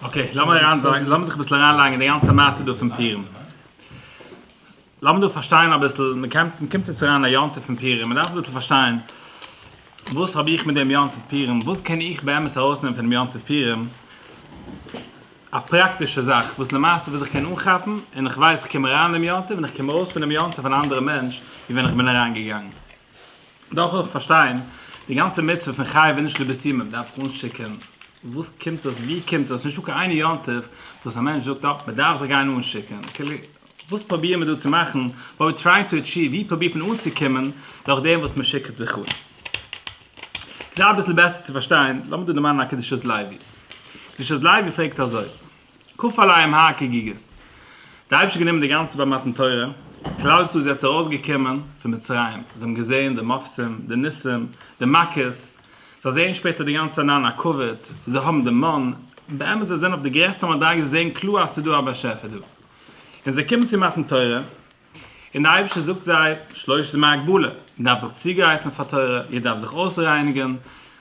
אקעי, לאמיר אריין זיין, לאמיר זיך אביסל אריין לייגן אין די גאנצע מעשה דא פון פורים. לאמיר דא פארשטיין אביסל, מען קעמפט, מען קומט יעצט אריין אין א יום טוב פון פורים, מען דארף אביסל פארשטיין, וואס האב איך מיט דעם יום טוב פורים, וואס קען איך באמת ארויסנעמען פונעם יום טוב פורים, א פראקטישע זאך וואס למעשה וואס איך קען אנכאפן, און איך ווייס איך קום אריין אין דעם יום טוב און איך קום ארויס פונעם יום טוב אן אנדערע מענטש ווי ווען איך בין אריין געגאנגען. דארף איך פארשטיין די גאנצע מצוה פון חייב און נישט לויט סימן דארף איך אנשיקען וואס קומט עס ווי קומט עס איז נישטא קיין איין יום טוב וואס א מענטש זאגט אה מען דארף זיך גיין אנשיקען כאילו וואס פראביר מען דא צו מאכן וואט ווי טרייען טו אטשיוו ווי פראבירט מען אנצוקומען דורך דעם וואס מען שיקעט זיך אן כדי אביסל בעסער צו פארשטיין לאמיר דא דערמאנען א קדושת לוי קדושת לוי פרעגט אזוי. ק עליהם ה ק גיגעס. די אייבערשטער האט גענומען די גאנצע ביי מתן תורה, כלל ישראל איז יעצט ארויס געקומען פון מצרים, זיי האבן געזען די מופתים, די ניסים, די מכות, זיי זעען שפעטער די גאנצע ענין הקאוויד, זיי האבן די מן, באמת זיי זענען אויף די גרעסטע מדריגה זיי זעען קלאר אז ס'איז דא א באשעפער דא, און זיי קומען צו מתן תורה, און דער אייבערשטער זאגט זיי, שלוש ז מהגבלה, מען דארף זיך צוגרייטן פאר תורה, איר דארפט זיך אויסרייניגן,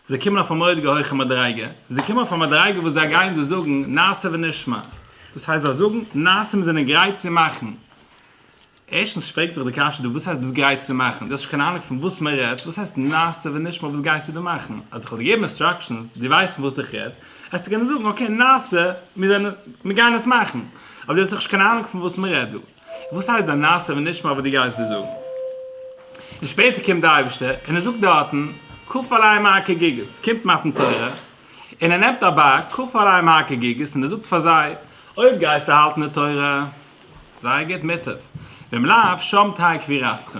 זיי קומען אויף א מורא'דיגע הויכע מדריגה, זיי קומען אויף א מדריגה וואס זיי גייען דאס זאגן נעשה ונשמע, דאס הייסט זיי זאגן נעשה מיר זענען גרייט צו מאכן, ערשטנס פרעגט זיך די קשיא דא וואס הייסט ביסט גרייט צו מאכן, דו האסט נישט קיין אהנונג פון וואס מען רעדט, וואס הייסט נעשה ונשמע וואס גייסטו דא מאכן, אז איך וועל דיר געבן אינסטראקשענס, דו ווייסט פון וואס איך רעד, העסטו קענען זאגן אקעי נעשה מיר זענען מיר גייען עס מאכן, אבער דו האסט דאך נישט קיין אהנונג פון וואס מען רעדט דא. וואס הייסט דיין נעשה ונשמע וואס דו גייסט דא זאגן? און שפעטער קומט די אייבערשטער און ער זאגט דארטן ק עלי מ א כגיגית, קומט מתן תורה און ער נעמט אבק ק עלי מ א כגיגית און ער זאגט פאר זיי, אויב גייסטו האלטן די תורה, זייער גוט, מוטב, ואם לאו, שם תהא קבירתכם.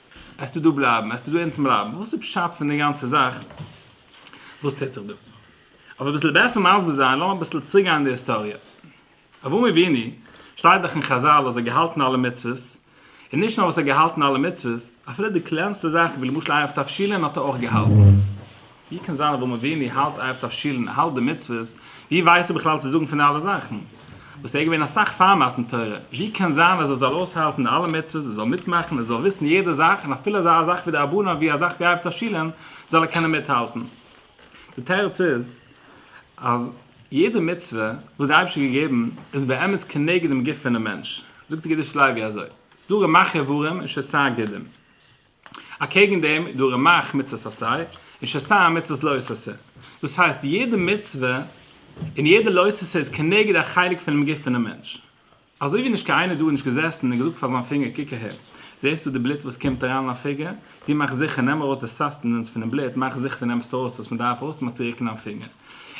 עסטו דא בלייבן? עסטו דא אונטן בלייבן? וואס איז פשט פון די גאנצע זאך? וואס טוט זיך דא? אויף אביסל בעסער מסביר זיין, לאמיר אביסל צוריק גיין אין די היסטאריע. אברהם אבינו, שטייט דאך אין חזל אז ער האט געהאלטן אלע מצוות, און נישט נאר וואס ער האט געהאלטן אלע מצוות, אפילו די קלענסטע זאכן ווי למשל ערב תבשילין האט ער אויך געהאלטן. ווי קען זיין אבא מוויני האלט אייפט אויף שולן ער האלט די מצוות, ווי ווייסט ער בכלל צו זאגן פון די אלע זאכן? וואס ער איז געווען אסאך פאר מתן תורה, ווי קען זיין אז ער זאל אויסהאלטן די אלע מצוות, ער זאל מיטמאכן, ער זאל וויסן יעדע זאך, און אפילו אזא זאך ווי די ארבנן ווי א זאך ווי אייפט אויף שולן זאל ער קענען מיטהאלטן? די תירוץ איז אז יעדע מצוה וואס די אייבערשטער האט געגעבן איז באמת כנגד דעם גוף פונעם מענטש, זאגט די געדישט לייבי אזוי, ס'דא רמח איברים און שסה גידים. אקעגן דעם איז דא רמח מצות עשה און שסה מצות לא עשה, דאס הייסט יעדע מצוה און יעדע לא עשה איז כנגד א חלק פונעם גוף פונעם מענטש, אזוי ווי נישט קיין איינער דא איז נישט געזעסן און געזאגט פאר זיין פינגער קוק אהער, זעסטו די בלוט וואס קומט אריין אין א פיגער, טו מאך זיכער נעם ארויס די סאסטענענס פונעם בלוט, מאך זיכער דו נעמסט ארויס וואס מען דארף ארויס נעמען צוריק אין דיין פינגער.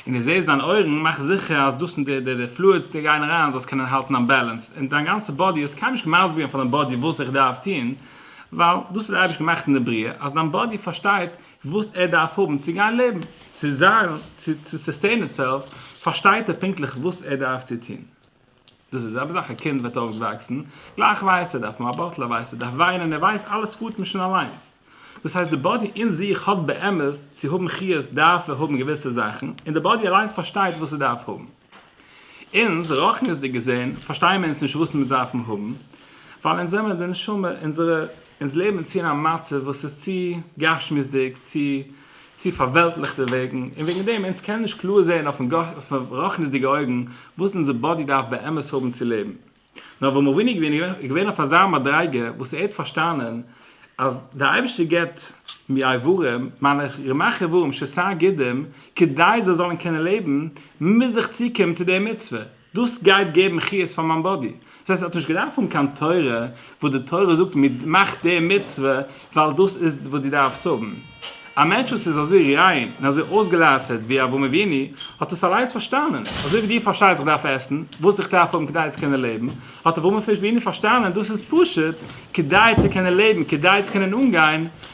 און די זעסט דיין אויערן מאך זיכער אז דאס און די די די פלואידס די גייען אריין זאלסט קענען האלטן א בעלענס און דיין גאנצע באדי אז קיינער האט נישט מסביר געווען פאר דיין באדי וואס איך דארף טון ווייל דאס האט דער אייבערשטער געמאכט אין די בריאה אז דיין באדי פארשטייט וואס ער דארף האבן צו גיין לעבן צו זיין צו סוסטעין איטסעלף פארשטייט ער פונקטליך וואס ער דארף צו טון. דאס איז זעלבע זאך א קינד וועט אויפוואקסן, גלייך ווייסט ער דארף מאבאטל, ער ווייסט ער דארף וויינען, ער ווייסט אלעס פארט נישט פון אליינס. דאס הייסט די באדי אין זיך האט באמת, צו האבן חיות דארף ער האבן געוויסע זאכן, און די באדי אליינס פארשטייט וואס עס דארף האבן. אונז, רוחניות'דיג געזען, פארשטייען מיר אונז נישט וואס אונז דארפן האבן, ווייל אונז זעמיר די נשמה, אונזערע, אונז לעבן צו אין א מצב וואס איז צו גשמיות'דיג, צו צו פארוועלטליכטע וועגן, און וועגן דעם אונז קענען נישט קלאר זען אויפן רחניות'דיגע אויגן וואס אונזער באדי דארף באמת האבן צו לעבן. נאר אברהם אבינו איז געווען איז געווען אויף אזא מדריגה וואס ער האט פארשטאנען אז דער אייבערשטער געבט מיר אברים, מיינע רמח אברים, שסה גידים, כדי זיי זאלן קענען לעבן, מוז איך צוקומען צו דער מצוה. דאס גייט געבן חיות פאר מיין באדי. דאס הייסט ער האט נישט געדארפט האבן קיין תורה וואס די תורה זאגט מען מאכט די מצוה ווייל דאס איז וואס דו דארפסט האבן. א מענטש וואס איז אזוי ריין און אזוי אויסגעלאטערט ווי אברהם אבינו האט דאס אליינס פארשטאנען. אזוי ווי דו פארשטייסט איך דארף עסן וואס איך דארף האבן כדי צו קענען לעבן, האט אברהם אבינו פארשטאנען דאס איז פשוט כדי צו קענען לעבן, כדי צו קענען אנגיין,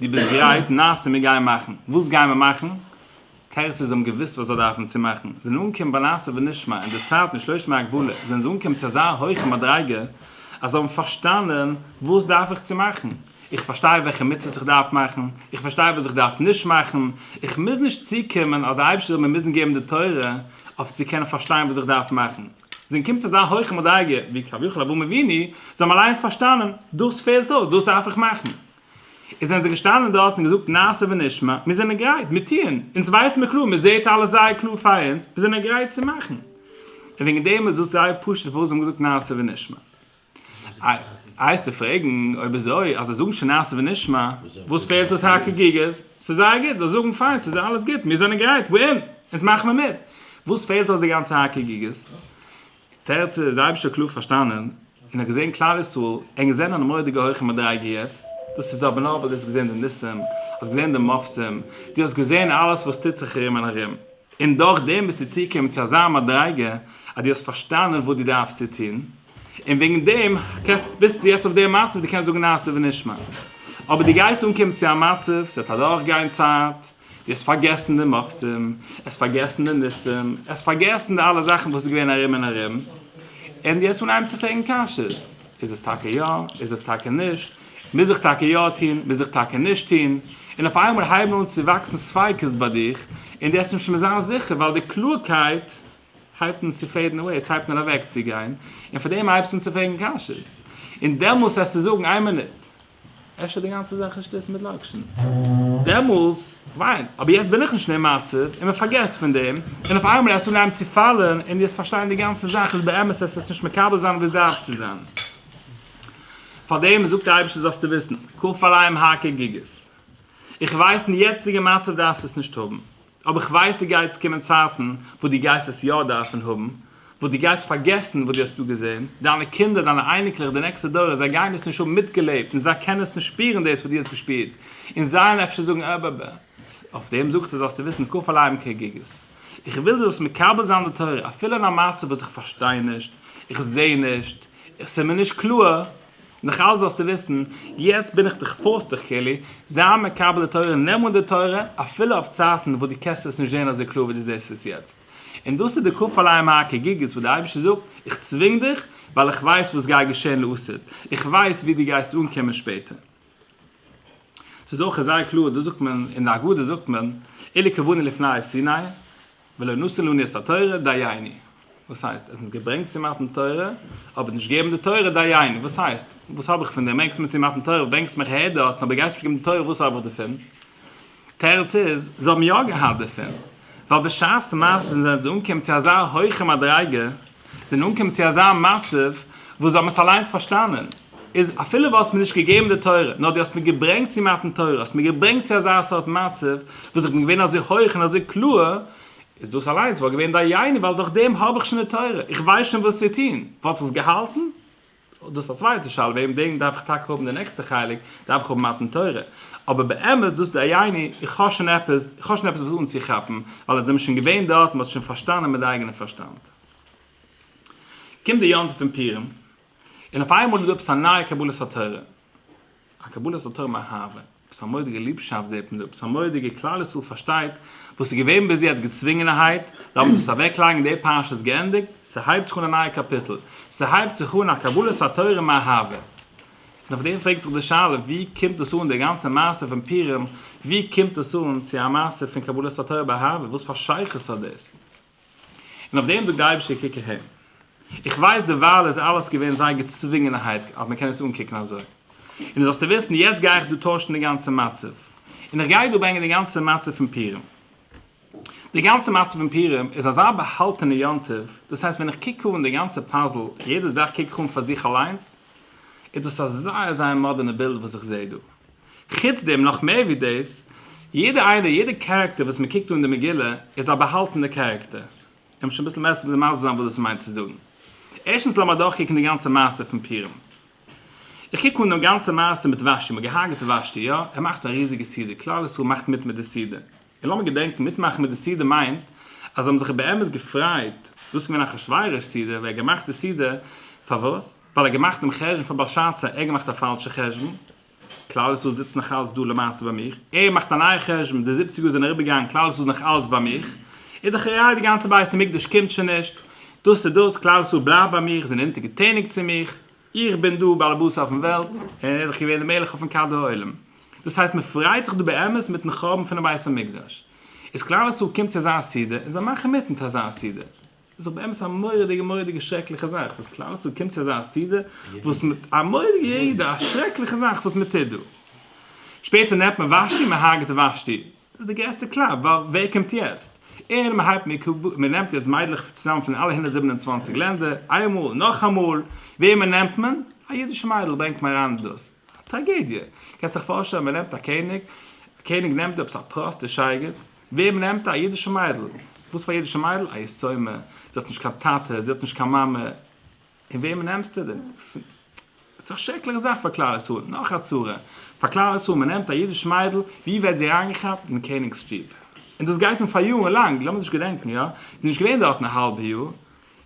דו ביסט גרייט? נעשה מיר גייען מאכן. וואס גייען מיר מאכן? תרצו זיי האבן געוואוסט וואס זיי דארפן צו מאכן, זיי זענען אנגעקומען ביי נעשה ונשמע, אין די צייט מיט שלוש מאה גבולי, זענען זיי אנגעקומען צו אזא הויכע מדריגה, אז זיי האבן פארשטאנען וואס דארף איך צו מאכן, איך פארשטיי וועלכע מצוות איך דארף מאכן, איך פארשטיי וואס איך דארף נישט מאכן, איך מוז נישט צוקומען אז דער אייבערשטער זאל מיר מוזן געבן די תורה אויף צו קענען פארשטיין וואס איך דארף מאכן, זיי זענען געקומען צו אזא הויכע מדריגה ווי כביכול אברהם אבינו, זיי האבן אליינס פארשטאנען, דאס פעלט אויס, דאס דארף איך מאכן. און זענען זיי געשטאנען דארט און געזאגט נעשה ונשמע, מיר זענען גרייט, מיר טוען, אונז ווייסט מיר קלאר, מיר זעט אלעס זייער קלאר פאר אונז, מיר זענען גרייט צו מאכן. און וועגן דעם איז דאס זייער פשוט פארוואס זיי האבן געזאגט נעשה ונשמע. הייסטו פרעגן, אויב אזוי, אז זיי זאגן שוין נעשה ונשמע, וואס פעלט עס הק' גוגעס? ס'איז זייער גוט, זיי זאגן פיין, ס'איז אלעס גוט, מיר זענען גרייט, we're in, אונז מאכן מיר מיט. וואס פעלט אויס די גאנצע הק' גוגעס? תרצה איז די אייבישטער קלאר פארשטאנען און האט געזען כלל ישראל און געזען אן מורא'דיגע הויכע מדריגה יעצט דאס איז אבער נאר ווייל דו האסט געזען די ניסים האסט געזען די מופתים דו האסט געזען אלעס וואס טוט זיך ארום און ארום און דורך דעם ביסטו צוגעקומען צו אזא מדריגה אז דו האסט פארשטאנען וואס דו דארפסט צו טון און וועגן דעם קענסט ביסטו יעצט אויף די מצב דו קענסט זאגן נעשה ונשמע אבער דו גייסט אנקומען צו א מצב ס'וועט אדורך גיין צייט דו האסט פארגעסן די מופתים, דו האסט פארגעסן די ניסים, דו האסט פארגעסן די אלע זאכן וואס איז געווען ארום און ארום, און דו האסט אנהייבן צו פרעגן קשיות, איז עס טאקע יא, איז עס טאקע נישט, מוז איך טאקע יא טון, מוז איך טאקע נישט טון, און אויף איינמאל הייבן אן צו וואקסן ספיקות ביי דיך, און דו העסט נישט מער זיין זיכער, ווייל די קלארקייט הייבט אן צו פעידן אוועי, עס הייבט אן אוועקצוגיין, און פאר דעם הייבסטו אן צו פרעגן קשיות, און דעמאלס העסטו זאגן, איין מינוט, אפשר די גאנצע זאך איז שטות מיט לאקשן? דעמאלס וויין. אבער יעצט בין איך נישט אין דעם מצב, און מען פארגעסט פון דעם, און אויף איינמאל האסטו אנגעהויבן צו פאלן, און דו האסט פארשטיין די גאנצע זאך איז באמת האסט עס נישט מקבל זיין ווי עס דארף צו זיין. פאר דעם זאגט דער אייבערשטער זאלסטו וויסן, כפליים הק' גיגית. איך ווייס אין די יעצטיגע מצב דארפסט עס נישט האבן. אבער איך ווייס ס'גייט קומען צייטן וואס דו גייסט עס יא דארפן האבן, וואס דו גייסט פארגעסן וואס דו האסט דא געזען, דיינע קינדער, דיינע אייניקלעך, די נעקסטע דורות, זיי גייען דאס נישט האבן מיטגעלעבט און זיי קענען עס נישט שפירן דאס וואס דו האסט געשפירט, און זיי וועלן אפשר זאגן ע ב ב. אויף דעם זאגט ער זאלסטו וויסן ק פ לייבן כגיגית, איך וויל דו זאלסט מקבל זיין די תורה אפילו אין א מצב וואס איך פארשטיי נישט, איך זע נישט, עס איז מיר נישט קלאר, נאכאלץ זאלסטו וויסן, יעצט בין איך דיך פארס דיך כולי, זיי מקבל די תורה, נעם אן די תורה, אפילו אויף צייטן וואס דו קענסט עס נישט זען אזוי קלאר ווי דו זעסט עס יעצט. און דאס איז די כפליים האקעגיגעס וואס דער אייבערשטער זאגט, איך צווינג דיך, ווייל איך ווייס וואס גיי געשען לעתיד, איך ווייס ווי דו גייסט אנקומען שפעטער. ס'איז אויך זייער קלאר, דאס זאגט מען, אין די הגדה זאגט מען, אילו כוונה לפני סיני, ולא נשאלוני את התורה, דייני. וואס הייסט? ער האט אונז געברענגט צו מתן תורה, אבער נישט געגעבן די תורה, דייני. וואס הייסט? וואס האב איך פון דעם? ברענגסט מיר צו מתן תורה, ברענגסט מיך אהער דארטן, אבער גייסט נישט געבן די תורה, וואס האב איך דערפון? תירוץ איז, זיי האבן יא געהאט דערפון, ווייל בשעת מעשה זענען זיי אנגעקומען צו אזא הויכע מדריגה, זענען אנגעקומען צו אזא מצב וואס זיי האבן עס אליינס פארשטאנען, איז אפילו וואלסט מיר נישט געגעבן די תורה, נאר דו האסט מיר געברענגט צו מתן תורה, האסט מיר געברענגט צו אזא סארט מצב, וואס איך בין געווען אזוי הויך און אזוי קלאר, איז דאס אליינס וואלט געווען דיינו, ווייל דורך דעם האב איך שוין די תורה, איך ווייס שוין וואס צו טון, וואלט זיך עס געהאלטן? דאס א צווייטע שאלה וועגן דעם דארף איך טאקע האבן די נעקסטע חלק דארף איך האבן מתן תורה אבער באמת דאס דייני איך האב שוין עפעס איך האב שוין עפעס וואס אנצוכאפן ווייל עס זעמיר שוין געווען דארט מ'האט שוין פארשטאנען מיט די אייגענע פארשטאנד קומט די יום טוב פון פורים און אויף איינמאל איז דא עפעס א נייע קבלת התורה. א קבלת התורה מיט אהבה, וואס א מורא'דיגע ליבשאפט זעט מען דא, וואס א מורא'דיגע כלל ישראל פארשטייט, וואס איז געווען ביז יעצט געצווינגענערהייט, לאמיר דאס אוועקלייגן, די פרשה איז געענדיגט, ס'הייבט זיך אן א נייע קאפיטל, ס'הייבט זיך אן א קבלת התורה מיט אהבה. און אויף דעם פרעגט זיך די שאלה, ווי קומט דאס אן די גאנצע מעשה פון פורים, ווי קומט דאס אן צו א מעשה פון קבלת התורה באהבה, וואס פאר שייכות האט דאס? און אויף דעם זאגט די אייבישטער קוק אהן. איך ווייס דערווייל איז אלעס געווען זייער געצווינגענערהייט אז מען קען עס אנקוקן אזוי. און זאלסטו וויסן יעצט גיי איך דא טוישן די גאנצע מצב. און איך גיי דא ברענגען די גאנצע מצב פון פורים. די גאנצע מצב פון פורים איז אזא באהאלטענע יום טוב, דאס הייסט ווען איך קוק אהן די גאנצע פאזל, יעדע זאך קוק איך אהן פאר זיך אליינס, איז דאס א זייער זייער מאדערנע בילד וואס איך זעה דא. חוץ דעם, נאך מער ווי דאס, יעדע איינע, יעדע קערעקטער וואס מען קוקט אן די מגילה איז א באהאלטענע קערעקטער. לאמיר שוין אביסל מער מסביר זיין וואס דאס מיינט צו זאגן. ערשטנס לאמיר אדורכקוקן די גאנצע מעשה פון פורים. איך קוק אן דעם גאנצע מעשה מיט ושתי, מען האט געהארגעט ושתי, יא, ער מאכט א ריזיגע סעודה, כלל ישראל מאכט מיט מיט די סעודה, און לאמיר געדענקן, מיטמאכן מיט די סעודה מיינט אז זיי האבן זיך באמת געפריידט, דאס איז געווען אחשורוש סעודה, ווער האט געמאכט די סעודה? פארוואס? ווייל ער האט געמאכט דעם חשבון פאר באלשאצאר, ער האט געמאכט א פאלשע חשבון, כלל ישראל זיצט נאך אלץ דא למעשה ביי מיך, ער מאכט א נייע חשבון, די זיבציג יאר זענען אריבער געגאנגען כלל ישראל איז נאך אלץ ביי מיך, איז דאך ראי' די גאנצע בית המקדש קומט שוין נישט, דאס איז דאס, כלל ישראל בלייבט ביי מיך, זענען אונטערגעטעניגט צו מיך, איך בין דער באלעבאס אויפן וועלט, און ער איז דאך געווען דער מלך אויפן כד העולם. דאס הייסט מען פריידט זיך דא באמת מיטן חורבן פונעם בית המקדש. איז כלל ישראל קומט צו אזא סעודה, און זיי מאכן מיט מיט אזא סעודה. איז דאך באמת א מורא'דיגע מורא'דיגע שרעקליכע זאך וואס כלל ישראל קומט צו אזא סעודה וואס מ. א מורא'דיגע ירידה, א שרעקליכע זאך וואס מען טוט דא. שפעטער נעמט מען ושתי, מען הרג'עט ושתי. דאס איז די גרעסטע קלאפ ווייל ווער קומט יעצט אהן מען הייבט מיט מען נעמט יעצט מיידלעך צוזאם פון אלע הונדערט זיבן און צוואַנציק לענדער איינמאל נאכאמאל וועמען נעמט מען א אידישע מיידל ברענגט מען אריין דאס א טראגעדיע קענסט דיך פארשטעלן מען נעמט א קעניג א קעניג נעמט דא עפעס א פראסטע שייגעץ וועמען נעמט א אידישע מיידל וואס פאר אידישע מיידל א יתומה זי האט נישט קיין טאטע זי האט נישט קיין מאמע. און וועמען נעמסטו דען? ס'איז דאך שרעקליכע זאך פאר כלל ישראל, נאך א צרה פאר כלל ישראל, מען נעמט א אידיש מיידל, ווי ווערט זי אריינגעכאפט? אין קעניג'ס שטוב. און דאס גייט אן פאר יארן לאנג, לאמיר זיך געדענקן, יא, זי איז נישט געווען דארטן א האלבע יאר,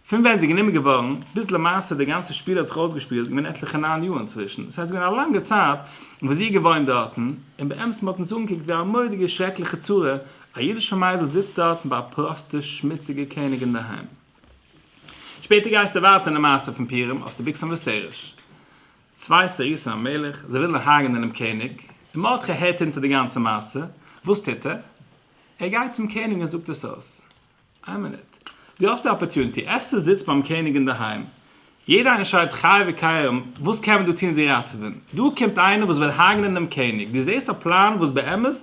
פון ווען זי איז גענומען געווארן, ביז למעשה די גאנצע שפיל האט זיך אויסגעשפילט, איז געווען עטליכע ניין יאר אינצווישן, דאס הייסט ס'איז געווען א לאנגע צייט וואס זי איז געוואוינט דארטן, און באמת מען האט אונז אנגעקוקט ווי א מורא'דיגע שרעקליכע צרה, א אידישע מיידל זיצט דארטן ביי א פראסטע שמוציגע קעניג אינדערהיים. שפעטער גייסטו ווייטער אין די מעשה פון פורים האסטו ביקסן וסרש צוויי סריסים א מלך זיי ווילן הרג'נען דעם קעניג און מרדכי הערט אונטער די גאנצע מעשה וואס טוט ער? ער גייט צום קעניג און זאגט עס אויס איין מינוט דו האסט די אפערטונעטי עסטער זיצט ביים קעניג אינדערהיים יעדער איינער שרייט חי וקיים, וואס קען מען דא טון זי ראטעווען? דא קומט איינער וואס וויל הרג'נען דעם קעניג, דו זעסט א פלאן וואס באמת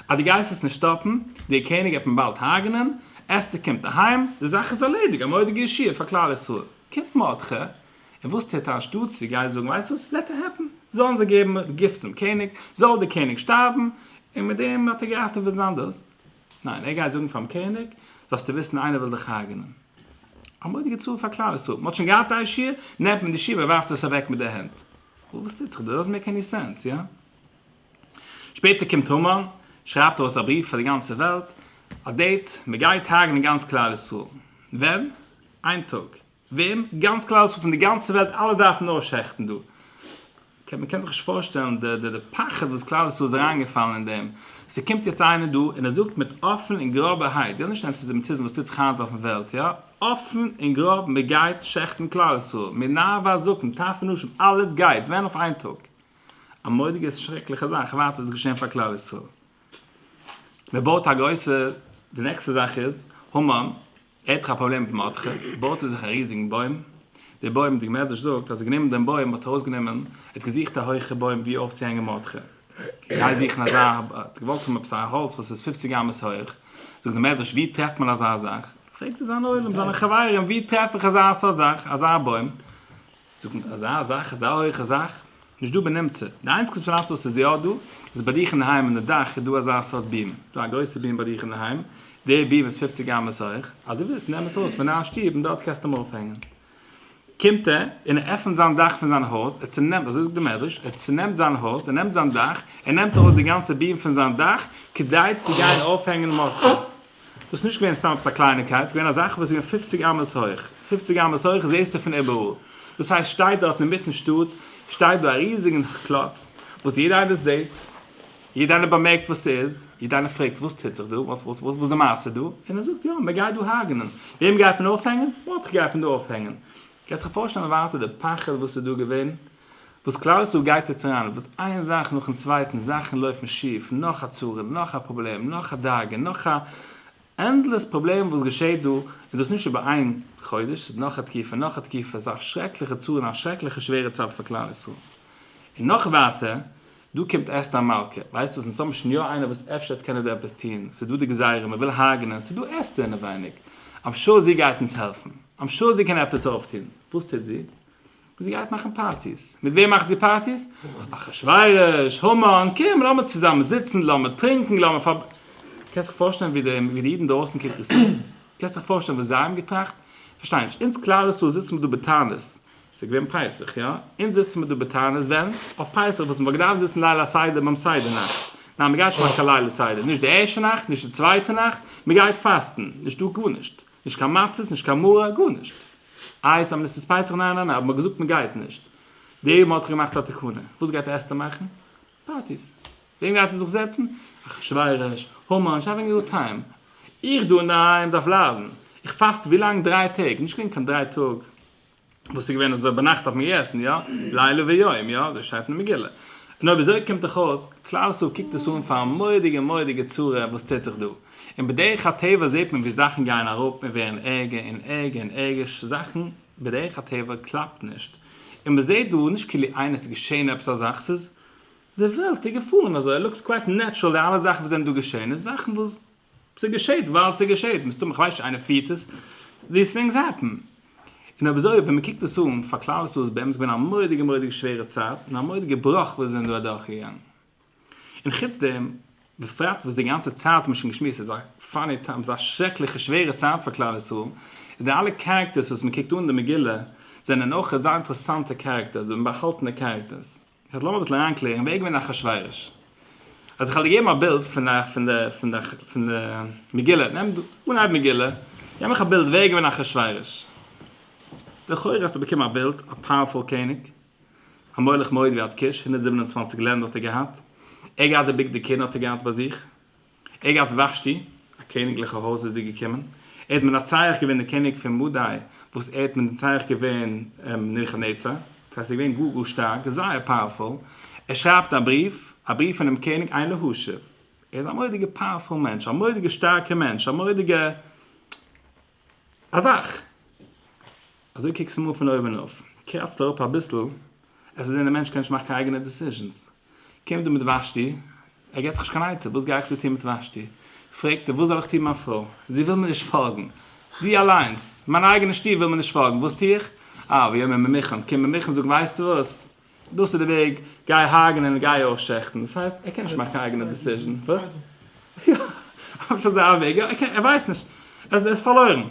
אז דו גייסט עס נישט סטאפן, דער קעניג וועט מען באלד הרג'נען, אסתר קומט אהיים, די זאך איז ארלעדיג, א מורא'דיגע ישועה פאר כלל ישראל. קומט מרדכי, און וואס טוט ער אנשטאטס צו גיין זאגן ווייסט וואס, לעט איט העפן, זאלן זיי געבן גוף צום קעניג, זאל דער קעניג שטארבן, און מיט דעם האט ער געראטעוועט זיין דאס. ניין, ער גייט זאגן פאר'ן קעניג, זאלסטו וויסן איינער וויל דיך הרג'נען. א מודיגע צאל פאר כלל ישראל, מען האט שוין געהאט א ישיבה, נעמט מען די ישיבה ווארפט עס אוועק מיט די הענט. וואס טוט זיך דא? דאזענט מעיק עני סענס, יא? שפעטער קומט המן, שרייבט ארויס א בריוו פאר די גאנצע וועלט, א דעיט, מען גייט הרג'נען גאנץ כלל ישראל. ווען? איין טאג. וועם? גאנץ כלל ישראל פון די גאנצע וועלט, אלעס דארף מען אויסשעכטן דא. מען קען זיך נישט פארשטעלן די די פחד וואס כלל ישראל איז אריין געפאלן אין דעם, ס'קומט יעצט איינער דא און ער זאגט מיט אפען און גראבערהייט, איך וויל נישט אנטיסעמיטיזם וואס טוט זיך היינט אויפן וועלט, יא, אפען און גראב מען גייט שעכטן כלל ישראל, מי נאר ווייל זקן, טף ונשים, אלעס גייט ווען אויף איין טאג, א מודי'גע שרעקליכע זאך, איך ווארט וואס וועט געשען פאר כלל ישראל, מען בויט א גרויסע, די נעקסטע זאך איז, המן, ער האט דאך א פראבלעם מיט מרדכי, בויט ער זיך א ריזיגן בוים, די בוים, די מדרש זאגט אז ער האט גענומען דעם בוים, האט ארויסגענומען, ער האט געזוכט א הויכע בוים ווי אויפצוהענגען מרדכי, גיי זוכן אזא, ער האט געוואלט האבן עפעס א האלץ וואס איז פופציג אמות הויך, זאגט די מדרש ווי טרעפט מען אזא זאך, פרעגט ער זיין עולם, זיינע חברים, ווי טרעף איך אזא סארט זאך, אזא בוים? זאגט מען אזא זאך אזא הויכע זאך נישט דא בנמצא, די איינציגסטע אינפארמאציע וואס איז יא דא איז ביי דיך אינדערהיים אין די דאך איז דא אזא סארט ביעם, דא א גרויסע ביעם ביי דיך אינדערהיים, די ביעם איז פופציג אמות הויך, אז דו ווילסט נעם עס אויס פון דיין שטוב און דארט קענסטו אים אויפהענגן. קומט ער און ער עפענט זיין דאך פון זיין הויז, ער צונעמט, אזוי זאגט די מדרש, ער צונעמט זיין הויז, ער נעמט זיין דאך, ער נעמט ארויס די גאנצע ביעם פון זיין דאך כדי צו גיין אויפהענגן מאטל. דאס איז נישט געווען סתם עפעס א קלייניקייט, ס'איז געווען א זאך וואס איז געווען פופציג אמות הויך, פופציג אמות הויך איז די ערשטע פון איבעראל, דאס הייסט שטייט דארט אינמיטן שטאט שטייט דא א ריזיגן קלאץ וואס יעדער איינער זעט, יעדער איינער באמערקט וואס ס'איז, יעדער איינער פרעגט וואס טוט זיך דא, וואס די מעשה דא, און ער זאגט יא מען גייט דא הרג'נען, וועם גייט מען אויפהענגען? מאטכע גייט מען דא אויפהענגען, קענסט דיך פארשטעלן ווארט די פחד וואס איז דא געווען. וואס כלל ישראל גייט יעצט אריין, וואס איין זאך נאכן צווייטן, זאכן לויפן שיף, נאך א צרה, נאך א פראבלעם, נאך א דאגה, נאך א, ענדלעס פראבלעם וואס געשעט דא, און דאס נישט איבער איין חודש, ס'איז נאך א תקופה, נאך א תקופה, ס'איז א שרעקליכע צרה און א שרעקליכע שווערע צייט פאר כלל ישראל. און נאך ווייטער, דא קומט אסתר המלכה, ווייסט וואס, אונז האבן שוין יא איינער וואס אפשר וועט קענען דא עפעס טון, ס'איז דא די גזירה, מ'וויל הרג'נען, ס'איז דא אסתר אינעווייניג, אמשאר זי גייט אונז העלפן, אמשאר זי קען עפעס אויפטון, וואס טוט זי? זי גייט מאכן פארטיס. מיט וועם מאכט זי פארטיס? אחשורוש, המן, קום לאמיר צוזאמען זיצן, לאמיר טרינקן, לאמיר פאר. קענסט דיך פארשטעלן ווי די ווי די אידן דרויסן קוקט עס אן? קענסט דיך פארשטעלן וואס זיי האבן געטראכט? פארשטיי נישט, אונז כלל ישראל זיצן מיר דא בתענית, עס איז געווען פסח, יא, אונז זיצן מיר דא בתענית ווען? אויף פסח וואס מ'וואלט געדארפט זיצן ליל הסדר ביים סדר נאכט. ניין, מ'גייט נישט מאכן קיין ליל הסדר, נישט די ערשטע נאכט, נישט די צווייטע נאכט, מ'גייט פאסטן, נישטא גארנישט. נישט קיין מצות, נישט קיין מרור, גארנישט. איי סא מ'עסט עס פסח? ניין ניין ניין, אבער מ'האט געזאגט מ'גייט נישט. די אומה האט געמאכט א תקנה. וואס גייט אסתר מאכן? פארטיס. וועם גייט זי זיך זעצן? אחשורוש, המן, זי האווינג א גוד טיים. איך דא אינדערהיים דארף ליידן. איך פאסט ווילאנג? דריי טעג. נישט געווען קיין דריי טאג. וואס איז געווען אזוי ביינאכט דארף מען געסן יא? לילה ויום יא? אזוי שטייט אין מגילה. און אויב אזוי קומט דאך אויס, כלל ישראל קוקט עס אן פאר א מורא'דיגע מורא'דיגע צרה וואס טוט זיך דא. און בדרך הטבע זעט מען ווי זאכן גייען אראפ און ווערן ערגער און ערגער און ערגער ש זאכן בדרך הטבע קלאפט נישט. און מען זעט דא נישט כאילו איינער ס'איז געשען עפעס א זאך ס'איז די וועלט איז געפארן אזוי לוקס קווייט נעטשרעל די אלע זאכן וואס זענען דא געשען איז זאכן וואס ס'געשעהט ווייל ס'געשעהט, מסתמא איך ווייס נישט איינער פירט עס, דיס טינגס העפען. און אויב אזוי ווען מ'קוקט עס אן, פאר כלל ישראל איז באמת געווען א מורא'דיגע מורא'דיגע שווערע צייט, און א מורא'דיגע בראך וואס זיי זענען דא אדורכגעגאנגען. און חוץ דעם, בפרט וואס די גאנצע צייט האט מען שוין געשמועסט ס'איז א פאני טיים, ס'איז א שרעקליכע שווערע צייט פאר כלל ישראל, און די אלע קערעקטערס וואס מ'קוקט אן די מגילה, זענען אויך אזא אינטערעסאנטע קערעקטערס, אומבאהאלטענע קערעקטערס. יעצט לאמיר אביסל אריינקלערן וועגן ווען אחשורוש. אז איך האב דיר געגעבן א בילד פון א פון די פון די פון די מגילה, נעם דו אנהייב מגילה, געב מיך א בילד וועגן ווען אחשורוש. לכאורה האסטו באקומען א בילד, א פאוערפול קעניג, א מלך מאוד ויד קוש, הונדערט זיבן און צוואַנציק לענדער האט ער געהאט, ער האט געהאט די בגדי כהונה האט ער געהאט ביי זיך, עגעת ושתי, א קעניגליכע הויז איז זי געקומען, ער האט מנצח געווען די קעניג פון מדי, וואס ער האט מנצח געווען נבוכדנצר, דאס הייסט ער איז געווען גאר גאר שטארק, זייער פאוערפול, ער שרייבט א בריוו, א בריוו פונעם קעניג עיין להשיב, ער איז א מורא'דיגע פאוערפול מענטש, א מורא'דיגע שטארקע מענטש, א מורא'דיגע. א זאך! אזוי קוקט עס אים אן פון אויבן אויף, קראצט אראפ אביסל, עס איז אין אים, מענטש קען נישט מאכן קיין אייגענע דעסיזשענס. קומט דא מיט וואשטי, ער געבט זיך נישט קיין עצה, וואס גיי איך דא טון מיט וואשטי? פרעגט ער, וואס זאל איך טון מיין פרוי? זי וויל מיר נישט פאלגן! זי אליינס, מיין אייגענע שטוב, וויל מיר נישט פאלגן, וואס טו איך? אה, ויאמר ממוכן, קום ממוכן, זאג ווייסטו וואס? דאס איז די וועג, גיי הרג'נען און גיי אויך שעכטן, דאס הייסט ער קען נישט מאכן קיין אייגענע דעסיזשען, וואס? יא, אפשר אזא וועג, יא, ער קען, ער ווייסט נישט, ער איז פארלוירן. און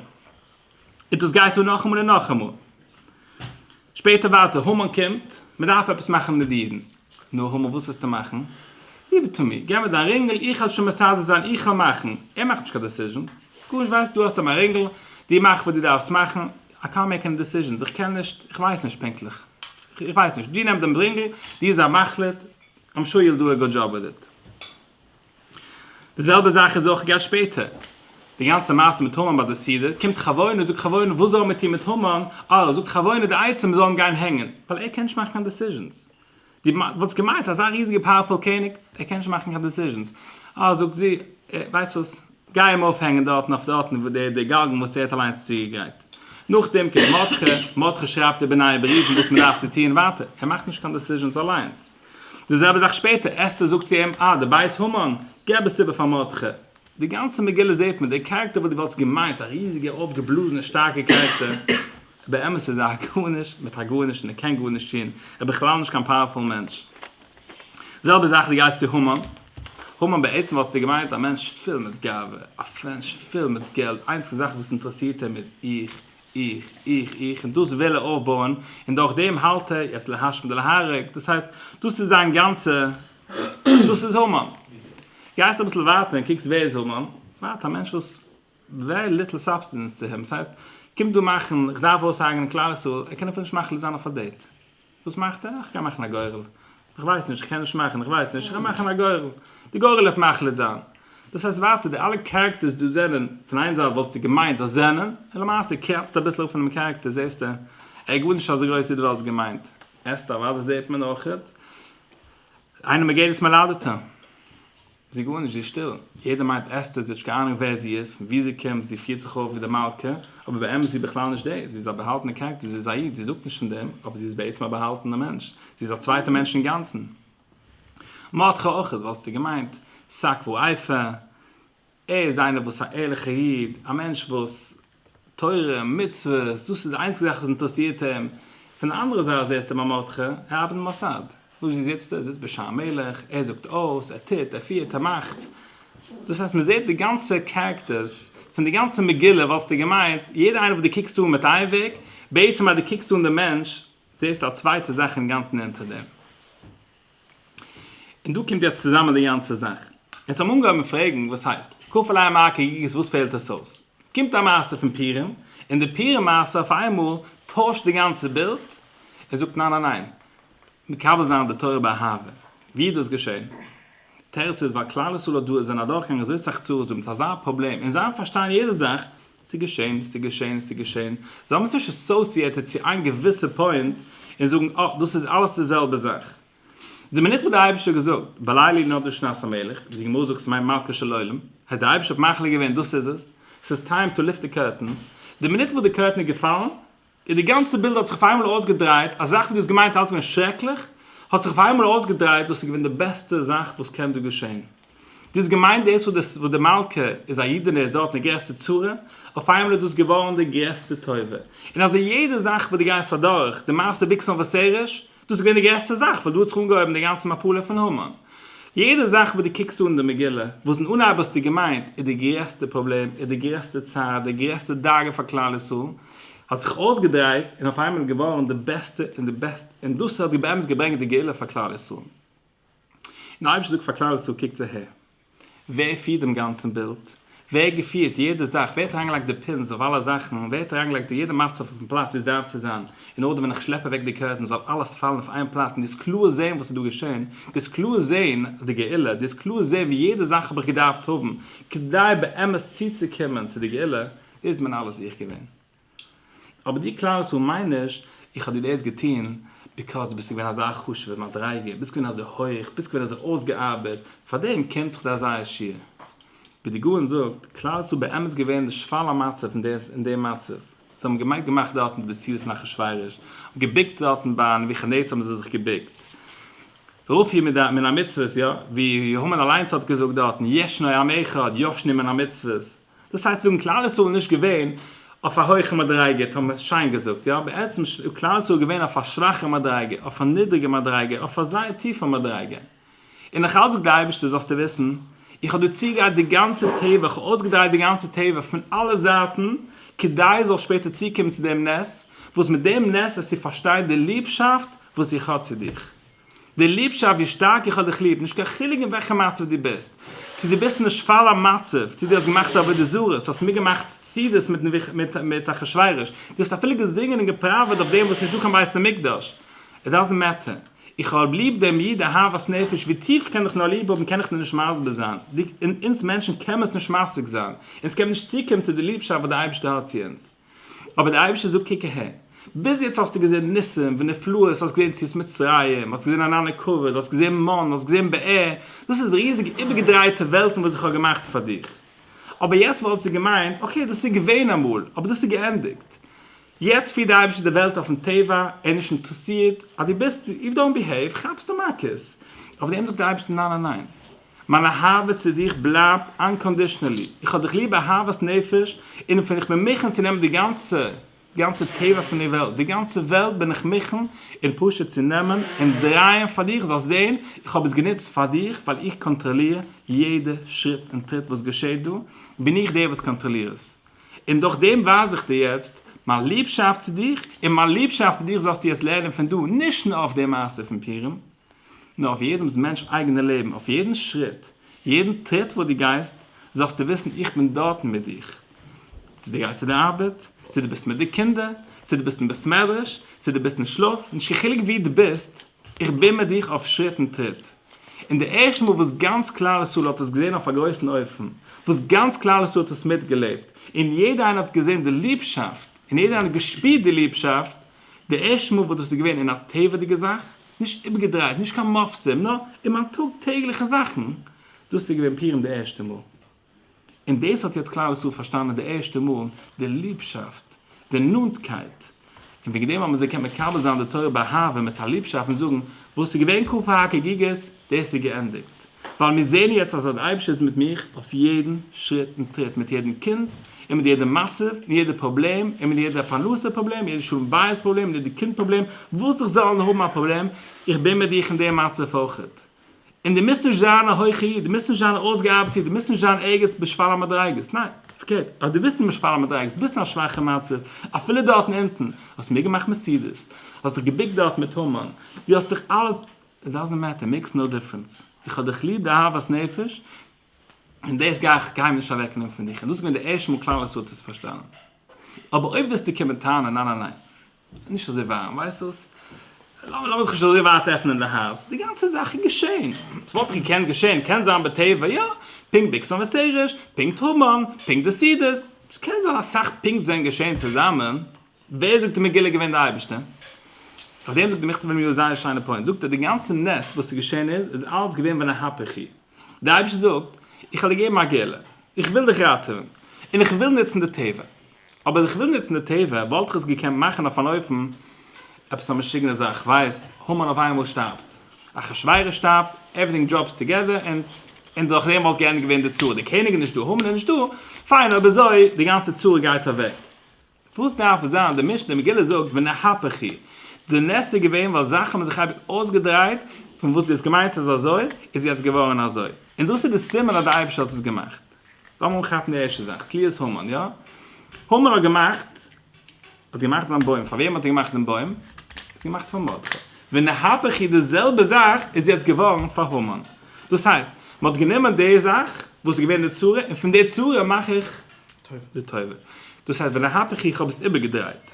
דאס גייט אן נאכאמאל און נאכאמאל. שפעטער ווייטער, המן קומט, מען דארף עפעס מאכן מיט די אידן. נו, המן וואס וועסטו מאכן? גיוו איט טו מי, געב מיר דיין רינגל, איך וועל שוין מסדר זיין, איך וועל מאכן. ער מאכט נישט קיין דעסיזשענס, גארנישט, ווייסט, דו האסט דא מיין רינגל, דו מאך וואס דו דארפסט מאכן, איי קאנט מעיק עני דעסיזשענס, איך קען נישט, איך ווייס נישט פונקטליך, איך ווייס נישט, דו נעם דעם ברינגל, דו זיי מחליט, איים שור יו וויל דא א גוד דזשאב וויט איט. די זעלבע זאך איז אויך געש שפעטער, די גאנצע מעשה מיט המן ביי די סעודה, קומט חבונה, זאגט חבונה, וואס זאלן מיר טון מיט המן, אה, זאגט חבונה די עצים זאלן גיין הענגען, ווייל ער קען נישט מאכן קיין דעסיזשענס, די וואלסט געמיינט אזא ריזיגע פאוערפול קעניג ער קען נישט מאכן קיין דיסיזשענס אה זאגט זי ווייסט וואס גיי אים אויפהענגען דארטן אויף דארטן וואו די די גאלגן וואס ער האט אליינס צוגעגרייט נאכדעם קומט מרדכי מרדכי שרייבט איבער נייע בריוון וואס מען דארף צו טון ווייטער ער מאכט נישט קיין דיסיזשענס אליינס די זעלבע זאך שפעטער אסתר זאגט צו אים אה די בית המן געב עס איבער פאר מרדכי די גאנצע מגילה זעהט מען, דער קערעקטער וואס דו וואלטסט געמיינט א ריזיגע אויפגעבלאזענע שטארקע קערעקטער, באמת איז ער א גארנישט מיט א גארנישט און ער קען גארנישט טון, ער איז בכלל נישט קיין פאוערפול מענטש. זעלבע זאך דו גייסט צו המן, המן בעצם וואלסטו געמיינט א מענטש פול מיט גאווה, א מענטש פול מיט געלט, די איינציגסטע זאך וואס אינטערעסירט אים איז איך, איך, איך, איך, און דאס וויל ער אויפבויען, און דורכדעם האלט ער, יעצט להשמיד ולהרוג, דאס הייסט, דאס איז זיין גאנצע דאס איז המן. גייסט אביסל ווייטער און קוקסט ווער איז המן, ווייט א מענטש וואס ווערי ליטל סאבסטענס צו אים, ס'הייסט קומט דא מאכן איך דארף אויסהארגענען כלל ישראל, ער קען אפילו נישט מאכן ליזאן אויף א דעיט, וואס מאכט ער? איך גיי מאכן א גורל, איך ווייס נישט, איך קען נישט מאכן, איך ווייס נישט, איך גיי מאכן א גורל, די גורל וועט מחליט זיין. דאס הייסט ווייטער די אלע קערעקטערס דא זענען, פון איין זייט וואלסטו געמיינט זיי זענען, און למעשה קראצט אביסל אויף פונעם קערעקטער זעסטו ער איז גארנישט אזוי גרויס ווי דו וואלסט געמיינט, עסט אוואדע זעהט מען אויכעט איינער מען געט דאס מלאדעטע זי גארנישט זי איז שטיל יעדער מיינט אסתר זי האט נישט קיין אהנונג ווער זי איז פון ווי זי קומט זי פירט זיך אויף ווי די מלכה אבער באמת איז זי בכלל נישט דאס זי איז א באהאלטענע קערעקטער זי איז א איד זי זאגט נישט פון דעם אבער זי איז בעצם א באהאלטענע מענטש זי איז א צווייטע מענטש אינגאנצען מאטכע אויכעט וואלסטו געמיינט סק וואו אייפע. ער איז איינער וואס א ערליכע איד, א מענטש וואס תורה, מצוות, דאס איז די איינציגע זאך וואס אינטערעסירט אים, פון די אנדערע זייט זעסטו ביי מרדכי, ער ארבעט אין מוסד, וואו זיצט ער? ער זיצט בשער המלך, ער זאגט אויס, ער טוט, ער פירט, ער מאכט, דאס הייסט מען זעט די גאנצע קערעקטערס, פון די גאנצע מגילה וואלסטו געמיינט יעדע איינער וואס דו קוקסט אן מיט איין וועג, בעצם אז דו קוקסט אן די מענטש, זעסטו א צווייטע זאך אינגאנצן אונטער דעם. און דא קומט יעצט צוזאמען די גאנצע זאך. אונז האבן אנגעהויבן פרעגן וואס הייסט, כפל א מ א כ ג ס וואס פעלט עס אויס? קומט א מעשה פון פורים, און די פורים מעשה אויף איינמאל טוישט די גאנצע בילד, ער זאגט ניין ניין ניין, מקבל זיין די תורה באהבה. ווי איז דאס געשען? תירוץ איז ווייל כלל ישראל האט דא זענען אדורכגעגאנגען אזוי סאך צרות דא מיט אזא פראבלעם און זיי פארשטייען יעדע זאך ס'איז געשען, ס'איז געשען, ס'איז געשען. זיי האבן עס נישט אסאסיעטעד צו איין געוויסע פוינט און זאגן אה, דאס איז אלעס די זעלבע זאך. די מינוט וואס דער אייבערשטער האט געזאגט בלילי נודע שנת המלך, ווי די גמרא זאגט ס'מיינט מלכו של עולם, אז דער אייבערשטער האט מחליט געווען דאס איז עס, ס'איז טיים טו ליפט די קורטען, די מינוט וואס די קורטען איז געפאלן, און די גאנצע בילד האט זיך אויף איינמאל אויסגעדרייט, א זאך וואס דו האסט געמיינט אלץ געווען שרעקליך, האט זיך אויף איינמאל אויסגעדרייט דאס איז געווען די בעסטע זאך וואס קען דא געשען. דו האסט געמיינט דאס וואס די מלכה איז א אידענע איז דארטן די גרעסטע צרה, אויף איינמאל איז דאס געווארן די גרעסטע טובה. און אזוי יעדע זאך וואס דו גייסט אדורך, די מעשה ביקסאן וואסעריש, דאס איז געווען די גרעסטע זאך וואס דא האט זיך אנגעהויבן די גאנצע מפלה פון המן. יעדע זאך וואס דו קוקסט אן די מגילה, וואס אין אנהייב האסטו געמיינט איז די גרעסטע פראבלעם, איז די גרעסטע צער, די גרעסטע דאגה פאר כלל ישראל, האט זיך אויסגעדרייט און אויף איינמאל געווארן די בעסטע און די בעסט, און דאס האט באמת געברענגט די גאולה פאר כלל ישראל. און אויב איך זאג פאר כלל ישראל קוקטס אהער, ווער פירט דעם גאנצן בילד? ווער האט געפירט יעדע זאך? ווער האט אריינגעלייגט די פינס אויף אלע זאכן? און ווער האט אריינגעלייגט יעדע מצב אויפן פלאץ ווי עס דארף צו זיין, אין ארדער ווען איך שלעפ אוועק די קערטענס זאל אלעס פאלן אויף איין פלאץ און דו זאלסט קלאר זען וואס איז דא געשען, דו זאלסט קלאר זען די גאולה, דו זאלסט קלאר זען ווי יעדע זאך האב איך געדארפט האבן כדי באמת צוצוקומען צו די גאולה, דאס בין אלעס איך געווען. אבער די כלל ישראל מיינט נישט, איך האב דיר דאס געטון ביקאויז דו ביסט געווען אזא חשוב'ער מדריגה, ביסט געווען אזוי הויך, ביסט געווען אזוי אויסגעארבעט, פארדעם קומט זיך דיר אזא עשיר. ווי די גאון זאגט, כלל ישראל באמת געווען די שפל המצב אין די אין די מצב. זיי האבן געמיינט געמאכט דארטן דו ביסט צו פון אחשורוש, געבוקט דארטן ביי נבוכדנצר האבן זיי זיך געבוקט. רופיא מן המצוות, יא, ווי המן אליינס האט געזאגט דארטן, ישנו עם אחד ישנו מן המצוות. דאס הייסט זאגן כלל ישראל איז נישט געווען אויף א הויכע מדריגה האט מען שיין געזאגט יא? בעצם איז כלל ישראל געווען אויף א שוואכע מדריגה אויף א נידריגע מדריגה אויף א זייער טיפע מדריגה און נאך אלס זאגט די אייבערשטער זאלסטו וויסן איך האב דיר צוגעגרייט די גאנצע תיבה איך האב אויסגעדרייט די גאנצע תיבה פון אלע זייטן כדי זאלסט שפעטער צוקומען צו דעם נס וואס מיט דעם נס וועסטו פארשטיין די ליבשאפט וואס איך האב צו דיך די ליבשאפט ווי שטארק איך האב דיך ליב, נישט קיין חילוק אין וועלכע מצב דו ביסט, צו דו ביסט אין א שפלה מצב, צו דו האסט געמאכט א עבודה זרה, צו האסט מיטגעמאכט סעודות מיט אחשורוש, דו האסט אפילו געזינגען און געפראוועט אויף דעם וואס נישטא קיין בית המקדש, איט דאזענט מעטער, איך האב ליב דעם איד אהבת נפש, ווי טיף איך קען דיך נאר ליב האבן קען איך דיר נישט מסביר זיין, אונז מענטשן קען מען עס נישט משיג זיין, אונז קען מען נישט צוקומען צו די ליבשאפט וואס דער אייבערשטער האט צו אונז. אבער דער אייבערשטער זאגט קוק אהער, ביז יעצט האסטו געזען ניסים ונפלאות, האסט געזען יציאת מצרים, האסט געזען ענני כבוד, האסט געזען מן, האסט געזען באר, דאס איז ריזיגע איבערגעדרייטע וועלטן וואס איך האב געמאכט פאר דיך, אבער יעצט וואלסטו געמיינט, אקעי דאס איז געווען אמאל, אבער דאס איז געענדיגט. יעצט פירט דער אייבערשטער די וועלט אויפן טבע, ער איז נישט אינטערעסירט אז דו ביסט, איף דאונט ביהעיוו כאפסטו מכות. אויף דעם זאגט דער אייבערשטער ניין ניין ניין. מיין אהבה צו דיך בלייבט אנקאנדישנעלי, איך האב דיך ליב אהבת נפש, און ווען איך בין מוכן צו נעמען די גאנצע גאנצע טבע פון די וועלט, די גאנצע וועלט בין איך מוכן און פשוט צו נעמען און דרייען פאר דיך זאלסט זען, איך האב עס גענוצט פאר דיך ווייל איך קאנטראליר יעדע שריט און טריט וואס געשעט דא, בין איך דער וואס קאנטראליר עס, און דורך דעם ווייז איך דיר יעצט מיין ליבשאפט צו דיך, און מיין ליבשאפט צו דיך זאלסטו יעצט לערנען פון דא, נישט נאר אויף די מעשה פון פורים. נאר אויף יעדעמס מענטש אייגענע לעבן, אויף יעדן שריט, יעדן טריט וואס דו גייסט, זאלסטו וויסן איך בין דארטן מיט דיך, צו דו גייסט צו די ארבעט, צו דו ביסט מיט די קינדער, צו דו ביסט אין בית מדרש, צו דו ביסט אין שלאף, נישט קיין חילוק וואו דו ביסט, איך בין מיט דיך אויף שריט און טריט. און די ערשטע מאל וואס גאנץ כלל ישראל האט עס געזען אויף א גרויסן אופן, וואס גאנץ כלל ישראל האט עס מיטגעלעבט, און יעדער איינער האט געזען די ליבשאפט, און יעדער איינער האט געשפירט די ליבשאפט, די ערשטע מאל וואס דאס איז געווען אין א טבע'דיגע זאך, נישט איבערגעדרייט, נישט קיין מופסים, נאר אין מיין טאג טעגליכע זאכן, דאס איז געווען פורים די ערשטע מאל, און דאס האט יעצט כלל ישראל פארשטאנען די ערשטע מאל, די ליבשאפט, די נאנטקייט, און וועגן דעם האבן זיי געקענט מקבל זיין די תורה באהבה מיט א ליבשאפט און זאגן, וואס איז געווען ק פ החגיגות? דאס איז געענדיגט, ווייל מיר זעען יעצט אז אז דער אייבערשטער איז מיט מיך אויף יעדן שריט און טריט, מיט יעדן קינד, און מיט יעדע מצב, און יעדע פראבלעם, און מיט יעדע פרנסה פראבלעם, יעדע שלום בית פראבלעם, און יעדע קינד פראבלעם, וואס איך זאלל נאר האבן א פראבלעם, איך בין מיט דיך אין די מצב אויכעט. און דו מוזט נישט זיין א הויכע איד, דו מוזט נישט זיין א אויסגעארבעטע איד, דו מוזט נישט זיין ערגעץ בשפל המדריגות, ניין, פארקערט, אז דו ביסט אין בשפל המדריגות, ביסט אין א שוואכע מצב, אפילו דארטן אונטן, האסט מיטגעמאכט מעסידעס, האסט דיך געבוקט דארט מיט המן, דו האסט דיך אלעס. איט דאזענט מעטער, מעיקס נאו דיפרענס, איך האב דיך ליב די אהבת נפש, און דאס גיי איך גיי נישט אוועק נעמען פון דיך, און דאס איז געווען די ערשטע מאל כלל ישראל האט דאס פארשטאנען, אבער אויב וועסטו קומען טענה'ן ניין ניין ניין, נישט אזוי ווארעם, ווייסט וואס, לאמיר זיך נישט אזוי ווייט עפענען די הארץ, די גאנצע זאך איז געשען, עס וואלט געקענט געשען, קען זיין בטבע יא, פונקט ביקסן וסרש, פונקט המן, פונקט די סידיס, עס קען זיין אסאך פונקט זענען געשען צוזאמען, ווער זאגט איז מגלה געווען די אייבערשטער? אויף דעם זאגט דער מכתב אליהו א זייער שיינע פוינט, זאגט ער די גאנצע נס וואס איז געשען איז איז אלץ געווען בנהפוך הוא, דער אייבערשטער זאגט איך האב דיר געגעבן א גאולה, איך וויל דיך ראטעווען, און איך וויל נוצן די טבע, אבער איך וויל נוצן די טבע וואלט איך עס געקענט מאכן אויף אן אופן, עפעס א משוגענע זאך, ווייס, המן אויף איינמאל שטארבט, אחשורוש שטארבט, עווריטינג דראפס טוגעדער, און און דורך דעם וואלט געענדיגט געווען די צרה, דער קעניג איז נישטא, המן איז נישטא, פיין אויב אזוי די גאנצע צרה גייט אוועק, וואס דארף עס זיין? די משנה אין מגילה זאגט ונהפך היא, די נס איז געווען ווייל זאכן האבן זיך אייביג אויסגעדרייט, פון וואס דו האסט געמיינט ס'איז אזוי, איז יעצט געווארן אזוי. און דאס איז די סימן אז די אייבערשטער האט עס געמאכט. לאמיר אנכאפן די ערשטע זאך, תליית המן, יא? המן האט געמאכט, האט געמאכט זיין בוים, פאר וועם האט ער געמאכט דעם בוים? ער האט עס געמאכט פאר מרדכי. ונהפך היא, די זעלבע זאך איז יעצט געווארן פאר המן. דאס הייסט, מ'האט גענומען די זאך, וואס איז געווען די צרה, און פון די צרה מאך איך די תורה. דאס הייסט ולהפך איך האב עס איבערגעדרייט.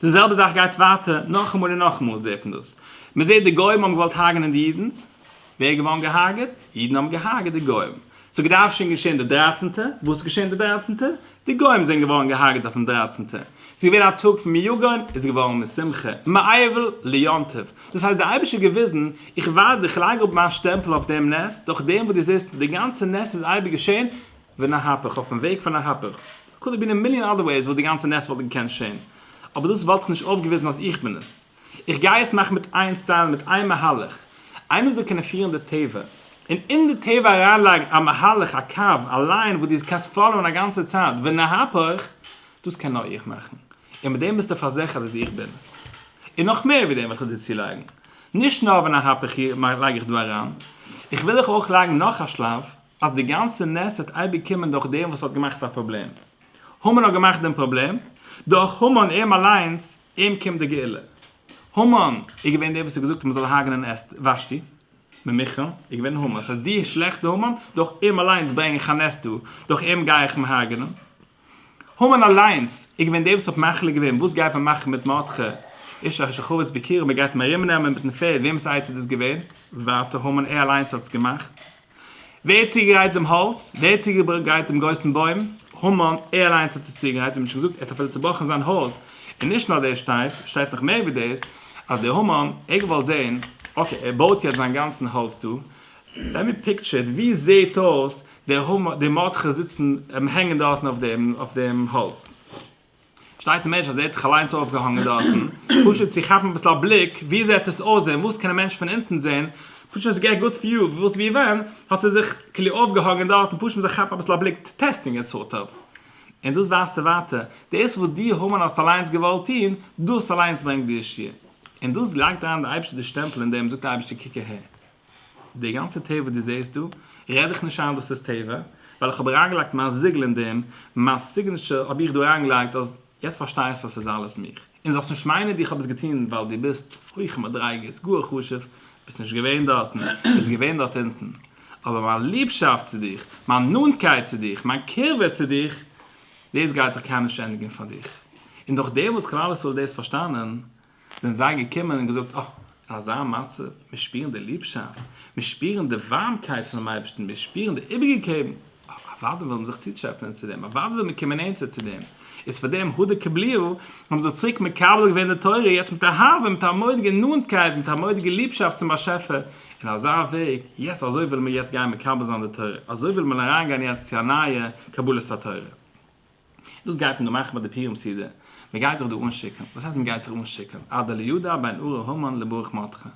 די זעלבע זאך גייט ווייטער נאכאמאל און נאכאמאל זעט מען דאס. מען זעט די גוים האבן געוואלט הרג'נען די אידן, ווער איז געווארן געהארגעט? אידן האבן געהארגעט די גוים. ס'האט געדארפט שוין געשען די דרייצענטע, וואס איז געשען די דרייצענטע? די גוים זענען געווארן געהארגעט אויפן דרייצענטע. ס'איז געווען א טאג פון מיגון, איז געווארן משמחה, מאיבל ליונטב, דאס הייסט דער אייבערשטער האט געוויזן, איך ווייז דיר, איך לייג אראפ מיין שטעמפל אויף דעם נס, דורך דעם וואס דו זעסט, די גאנצע נס איז אייביג געשען, ואין ההפך, אויפן וועג פון א הפך, קאלד בין א מיליאן אדער וועיס וואס די גאנצע נס וואלט געקענט שען, אבער דאס וואלט איך נישט אויפגעוויזן אז איך בין עס, איך גיי עס מאכן מיט איין סטייל, מיט איין מהלך, איינער זאל קענען פירן די טבע, און אין די טבע אריינלייגן א מהלך, א קו, א ליין וואס דו קענסט פאלאוען א גאנצע צייט, ואין ההפך, דאס קען נאר איך מאכן, און מיט דעם ביסטו פארזיכערט אז איך בין עס. און נאך מער ווי דעם וויל איך דיר צולייגן, נישט נאר ווען א הפך לייג איך דא אריין, איך וויל דיך אויך לייגן נאך א שלב, אז די גאנצע נס וועט אייביג קומען דורך דעם וואס האט געמאכט א פראבלעם. המן האט געמאכט דעם פראבלעם, דורך המן אים אליינס, אים קומט די גאולה. המן איז געווען דער וואס האט געזאגט אז מען זאל הרג'נען אסתר, ושתי, ממכרם, איז געווען המן. ס'הייסט, די שלעכטע המן, דורך אים אליינס ברענג איך א נס דא, דורך אים גיי איך אים הרג'נען. המן אליינס איז געווען דער וואס האט מחליט געווען וואס גייט מען מאכן מיט מרדכי איש אשר כבש בקרבו מען גייט אים ארום נעמען מיטן פערד וועמענס עצה איז דאס געווען? ווייטער המן ער אליינס האט עס געמאכט ווער האט צוגעגרייט דעם האלץ? ווער האט צוגעגרייט דעם גרויסן בוים? המן ער אליינס האט עס צוגעגרייט ווי נישט געזאגט ער האט אפילו צובראכן זיין הויז און נישט נאר דאס שטייט שטייט נאך מער ווי דאס אז דער המן ער האט געוואלט זען אקעי ער בויט יעצט זיין גאנצן האלץ דא לעמי פיקטשער איט ווי זעט אויס די הומא, די מאדכעס זיצן, הענגען דארטן אויף דעם, אויף דעם האלץ. שטייט א מענטש אז ער האט זיך אליינס אויפגעהאנגען דארטן, פשוט צו כאפן אביסל א בליק, ווי זעט עס אויס און וואס קען א מענטש פון אונטן זען, פשוט צו געט גוט וויו, וואס ווי ווען, האט ער זיך כאילו אויפגעהאנגען דארטן, פשוט צו כאפן אביסל א בליק, טעסטינג איט סארט אוו. און דאס ווייזט ער ווייטער, דאס וואס דו הומאן האסט אליינס געוואלט טון, דאס אליינס ברענגט דיר שיעור. און דאס לייגט אריין די אייבערשטער די שטעמפל אין דעם, זאגט די אייבערשטער קוק אהער. די גאנצע טבע וואס דו זעהסט דא, רעד איך נישט איין דאס איז טבע, ווייל איך האב אריינגעלייגט מיין זיגל אין דעם, מיין סיגניטשער האב איך דא אריינגעלייגט אז יעצט פארשטייסטו אז ס'איז אלעס מיך, און זאלסט נישט מיינען ווי איך האב עס געטון ווייל דו ביסט הויכע מדריגות, גאר חשוב, ביסט נישט געווען דארטן, ביסט געווען דארט אונטן, אבער מיין ליבשאפט צו דיך, מיין נאנטקייט צו דיך, מיין קירבה צו דיך, דאס גייט זיך קיינמאל נישט ענדיגן פאר דיך. און נאכדעם וואס כלל ישראל האט דאס פארשטאנען, זענען זיי געקומען און געזאגט, אָ, אין אַזאַ מצב, מיר שפּירן די ליבשאַפֿט, מיר שפּירן די װאַרמקײט פֿונעם אײבערשטן, מיר שפּירן די איבערגעגעבן, אָ, אַװדאי װילן מיר זיך צוטשעפּענען צו דעם, אַװדאי װילן מיר קומען נענטער צו דעם. איז פֿאַר דעם הדה קבליהו האָבן מיר זיך צוריק מקבל געװען די תּורה, יעצט מיט אהבֿה, מיט אַ מודיגער נאָענטקײט, מיט אַ מודיגער ליבשאַפֿט צום באַשעפֿער, אין אַזאַ װעג, יעצט אַזױ װילן מיר יעצט גײן מקבל זײַן די תּורה, אַזױ װילן מיר אַרײַנגײן יעצט צו אַ נײַער קבלת התּורה. דאס גייט מען דא מאכן ביי די פורים סעודה? מען גייט זיך דא אנשיקען? וואס הייסט מען גייט זיך אנשיקען? אדא ליודע בין ארור המן לברוך מותך?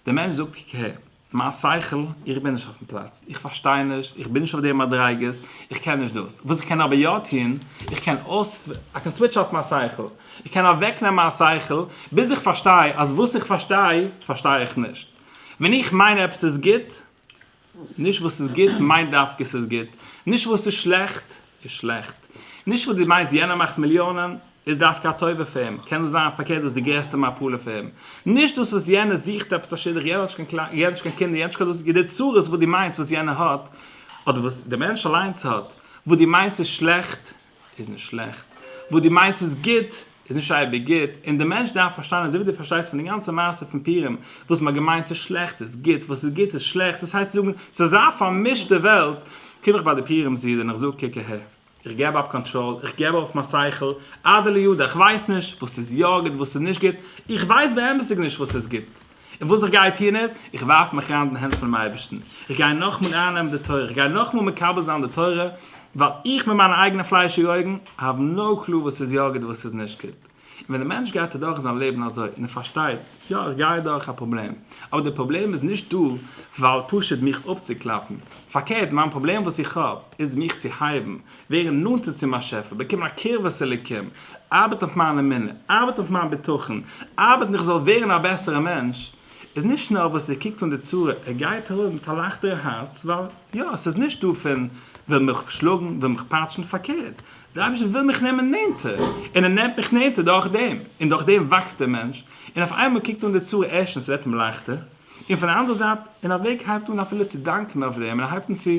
דער מענטש זאגט ק ה, מיין שכל, איך בין נישט אויפן פלאץ, איך פארשטיי נישט, איך בין נישט אויף די מדריגות, איך קען נישט דאס. וואס איך קען אבער יא טוהן, איך קען אויס, איי קען סוויטש אףף מיין שכל, איך קען אוועק נעמען מיין שכל, ביז איך פארשטיי אז וואס איך פארשטיי, פארשטיי איך נישט. ווען איך מיין עפעס איז גוט, נישט וואס איז גוט מיינט דווקא עס איז גוט, נישט וואס איז שלעכט איז שלעכט, נישט וואס דו מיינסט יענער מאכט מיליאנען איז דווקא א טובה פאר אים, קען דאס זיין פארקערט דאס איז די גרעסטע מפלה פאר אים, נישט דאס וואס יענער זוכט עפעס א שידוך, יענער האט נישט קיין קליידער, יענער האט נישט קיין קינדער, יענער האט נישט קיין דאס, די צרות וואס דו מיינסט וואס יענער האט, אדער וואס דער מענטש אליינס האט, וואס דו מיינסט איז שלעכט, איז נישט שלעכט, וואס דו מיינסט איז גוט, איז נישט אייביג גוט, און דער מענטש דארף פארשטיין אזוי ווי דו פארשטייסט פון די גאנצע מעשה פון פורים, וואס מען האט געמיינט איז שלעכט איז גוט, וואס איז גוט איז שלעכט, דאס הייסט צו זאגן, ס'איז אזא פארמישטע וועלט, קום איך ביי די פורים זיד און איך זאג קוק אהער, איך געב אפ קאנטראל, איך געב אויף מיין שכל, אדער לידע, איך ווייס נישט וואס איז יא גוט וואס איז נישט גוט, איך ווייס באמת'דיג נישט וואס איז גוט, און וואס איך גיי טון איז, איך ווארף מיך אריין אין די הענט פונעם אייבערשטן, איך גיי נאכאמאל אייננעמען די תורה, איך גיי נאכאמאל מקבל זיין די תורה, ווייל איך מיט מיינע אייגענע פליישיגע אויגן האב נאו קלו וואס איז יא גוט און וואס איז נישט גוט. און ווען דער מענטש גייט אדורך זיין לעבן אזוי, און ער פארשטייט, יא איך גיי אדורך א פראבלעם, אבער דער פראבלעם איז נישט דא ווייל פשוט מיך אפצוקלאפן, פארקערט מיין פראבלעם וואס איך האב איז מיך צו הייבן, ווערן נאנטער צום באשעפער, באקומען א קרבת אלוקים, ארבעט אויף מיין אמונה, ארבעט אויף מיין בטחון, ארבעטן איך זאל ווערן א בעסערע מענטש, איז נישט נאר וואס ער קוקט אן די צרה, ער גייט ארויס מיט א לייכטערע הארץ, ווייל יא, עס איז נישט דא פון וויל מיך שלאגן, וויל מיך פאטשן, פארקערט, דער אייבערשטער וויל מיך נעמען נענטער, און ער נעמט מיך נענטער דורך דעם, און דורך דעם וואקסט דער מענטש, און אויף איינמאל קוקט אן די צרה ערשטענס ווערט אים לייכטער, און פון די אנדערע זייט, און ער הייבט אן אפילו צו דאנקען אויף דעם, און ער הייבט אן צו.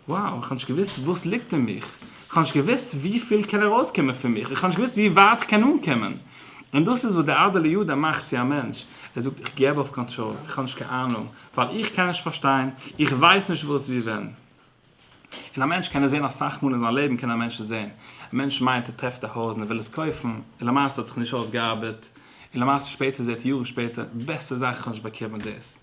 וואו, איך האב נישט געוואוסט וואס ליגט אין מיך, איך האב נישט געוואוסט ווי פיל קען ארויס קומען פון מיך, איך האב נישט געוואוסט ווי ווייט איך קען אנקומען. און דאס איז וואס דער אדעלער יודע מאכט צו א מענטש, ער זאגט איך געב אויף קאנטראל, איך האב נישט קיין אהנונג, ווייל איך קען נישט פארשטיין, איך ווייס נישט וואס ווי ווען. און א מענטש קען עס זען אסאך מאל אין זיין לעבן קען א מענטש עס זען, א מענטש מיינט ער טרעפט א הויז און ער וויל עס קויפן, און למעשה האט זיך נישט אויסגעארבעט, און למעשה שפעטער זעט ער יארן שפעטער, בעסער זאך איך האב נישט באקומען דאס.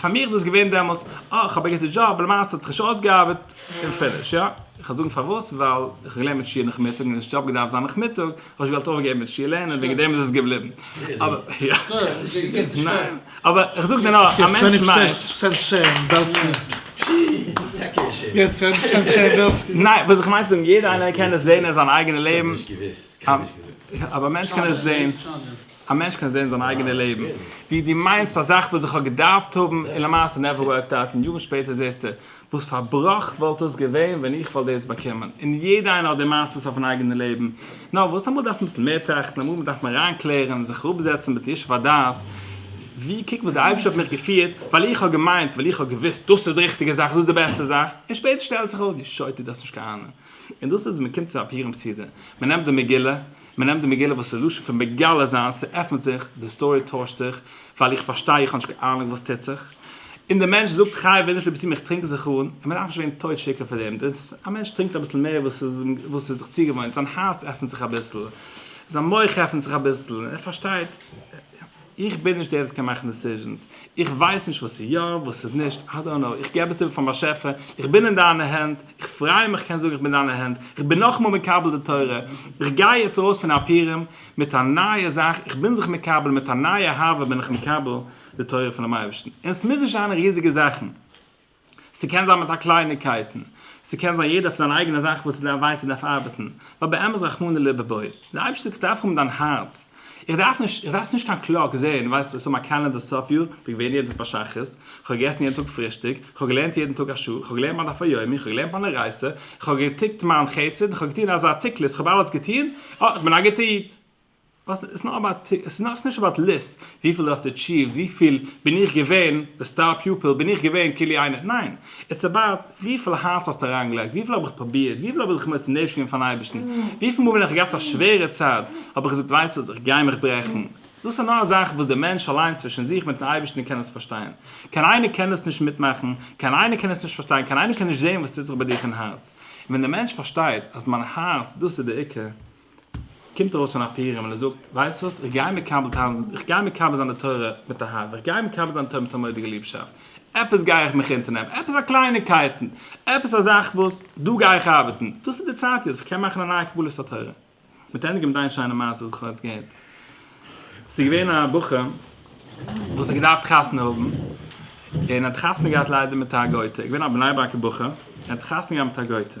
פאר מיר איז דאס געווען דעמאלס, אה, איך האב א גוטע דזשאב, למעשה האט זיך נישט אויסגעארבעט, און פיניש, יא. איך וועל זאגן פארוואס, ווייל איך האב געלערנט מיט שיעור נאכמיטאג, און עס האט נישט אפגעדארפט זיין נאכמיטאג, האב איך נישט געוואלט אויפגעבן מיט שיעור לערנען, וועגן דעם איז עס געבליבן. אבער איך זאג דיר נאר, א מענטש ניין, וואס איך מיין צו זאגן, יעדער איינער קען עס זען אין זיין אייגענע לעבן, א מענטש קען עס זען. א מענטש קען זעהן זיין אייגענע לעבן ווי דו מיינסט א זאך וואס איך האב געדארפט האבן און למעשה נעווער ווארקד אוט און יארן שפעטער זעהסטו וואס פאר בראך וואלט דאס געווען ווען איך וואלט דאס באקומען און יעדע איינער האט די מעשות אויפן אייגענע לעבן נאר וואס אמאל דארף מען אביסל מער טראכטן אמאל דארף מען אריין קלערן זיך אראפ זעצן מיטן ישוב הדעת ווי קוק וואס די אייבערשטער האט מיך געפירט ווייל איך האב געמיינט ווייל איך האב געוויסט דאס איז די ריכטיגע זאך דאס איז די בעסטע זאך און שפעטער שטעלט זיך אויס דו שוטה דו האסט נישט קיין אנונג. און דאס איז, מ'קומט צו א פורים סעודה, מ'נעמט די מגילה, מ'נעמט די מגילה וואס איז לשון פון מגלה זיין, ס'עפנט זיך, די סטארי טוישט זיך, ווייל איך פארשטיי, איך האב נישט קיין אהנונג וואס טוט זיך, און דער מענטש זאגט חי ווער נישט ליבסטו מיך טרינק זיך אן, און מ'דארף נישט ווערן טויט שיכור פאר דעם, א מענטש טרינקט אביסל מער וואס ער איז זיך צוגעוואוינט, זיין הארץ עפנט זיך אביסל, זיין מח עפנט זיך אביסל, ער פארשטייט. איך בין נישט דער וואס קען מאכן דעסיזשענס, איך ווייס נישט וואס איז יא, וואס איז נישט, איי דאנט נאו, איך געב עס איבער פארן באשעפער, איך בין אין דיינע הענט, איך פריי מיך קענען זאגן איך בין אין דיינע הענט, איך בין נאכאמאל מקבל די תורה, איך גיי יעצט ארויס פון אפרים מיט א נייע זאך, איך בין זיך מקבל, מיט א נייע אהבה בין איך מקבל די תורה פונעם אייבערשטן, און עס מוז נישט זיין ריזיגע זאכן. ס'קען זיין מיט א קלייניקייטן, ס'קען זיין יעדער פון דיינע אייגענע זאכן וואס דו ווייסט ס'דארף ארבעטן, ווייל באמת רחמנא לבבי, די אייבערשטער זאגט דארף האבן דיין הארץ, איך דארף נישט, איך דארף נישט קיין קלאק, זעהן, ווייסט עס האבן א קאלענדער סוף יאר, כ'בין געווען יעדן טאג ביי שחרית, כ'האב געגעסן יעדן טאג פרישטאג, כ'האב געלערנט יעדן טאג א שעה, כ'האב געלערנט מיין דף היומי, כ'האב געלערנט מיין אורייתא, כ'האב געטיקט מיין חסד, כ'האב געטון אזא תיקלעס, כ'האב אלעס געטון, אה, כ'בין א גוטע איד. עס איז נאר אבאוט טיק, עס איז נישט אבאוט ליסט, וויפיל האסטו עטשיווט, וויפיל בין איך געווען די סטאר פיופיל, בין איך געווען כולי עיני, ניין, איטס אבאוט וויפיל הארץ האסטו אריינגעלייגט, וויפיל האב איך פרובירט, וויפיל האב איך זיך מוסר נפש געווען פארן אייבערשטן, וויפיל מאל ווען איך האב געהאט א שווערע צייט האב איך געזאגט ווייסט וואס איך גיי מיך ברעכן, דאס איז נאר א זאך וואס דער מענטש אליין צווישן זיך מיטן אייבערשטן קען עס פארשטיין, קיין איינער קען עס נישט מיטמאכן, קיין איינער קען עס נישט פארשטיין, קיין איינער קען נישט זען וואס טוט זיך ביי דיך אין הארץ, און ווען דער מענטש פארשטייט אז מיין הארץ דאס איז דער עיקר, קומט ארויס פון א פירעם און ער זאגט, ווייסט וואס, איך גיי מקבל טאן, איך גיי מקבל זיין די תורה מיט א האוו, איך גיי מקבל זיין די תורה מיט א מודי'גע ליבשאפט, עפעס גיי איך מיך אונטערנעמען, עפעס א קלייניקייטן, עפעס א זאך וואס, דא גיי איך ארבעטן, דאס איז די צייט יעצט, איך קען מאכן א נייע קבלת התורה. מיט ענדיגן מיט דיין שיינע מעשה וואס איך האב יעצט געהערט. ס'איז געווען א בחור וואס האט געדארפט חתונה האבן, און ער האט חתונה געהאט ליידער מיט א גוי'טע, געווען א בני ברק'ע בחור, ער האט חתונה געהאט מיט א גוי'טע,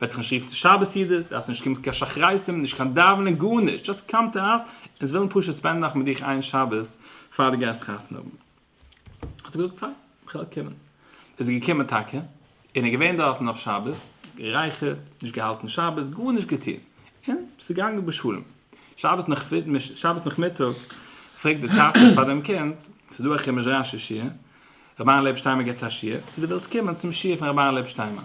וועט נישט רופן שבת יעדעס, דארף נישט קומען קיין שחריתים, נישט קיין דאווענען, גארנישט, דזשאסט קאם טו אס, אונז ווילן פשוט ספענדן נאך מיט דיך איין שבת פאר דו גייסט חתונה האבן. האט ער געזאגט פיין, כ'וועל קומען. איז ער געקומען טאקע, און איז געווען דארטן אויף שבת, גערייכערט, נישט געהאלטן שבת, גארנישט געטון, און ס'איז געגאנגען בשלום. שבת נאכמיטאג, שבת נאכמיטאג פרעגט די טאטע פאר דעם קינד, ס'איז דא א חומש רשי שיעור, רבי'ן לב שטיינמאן גיבט א שיעור, צו דו ווילסט קומען צום שיעור פון רבי'ן לב שטיינמאן.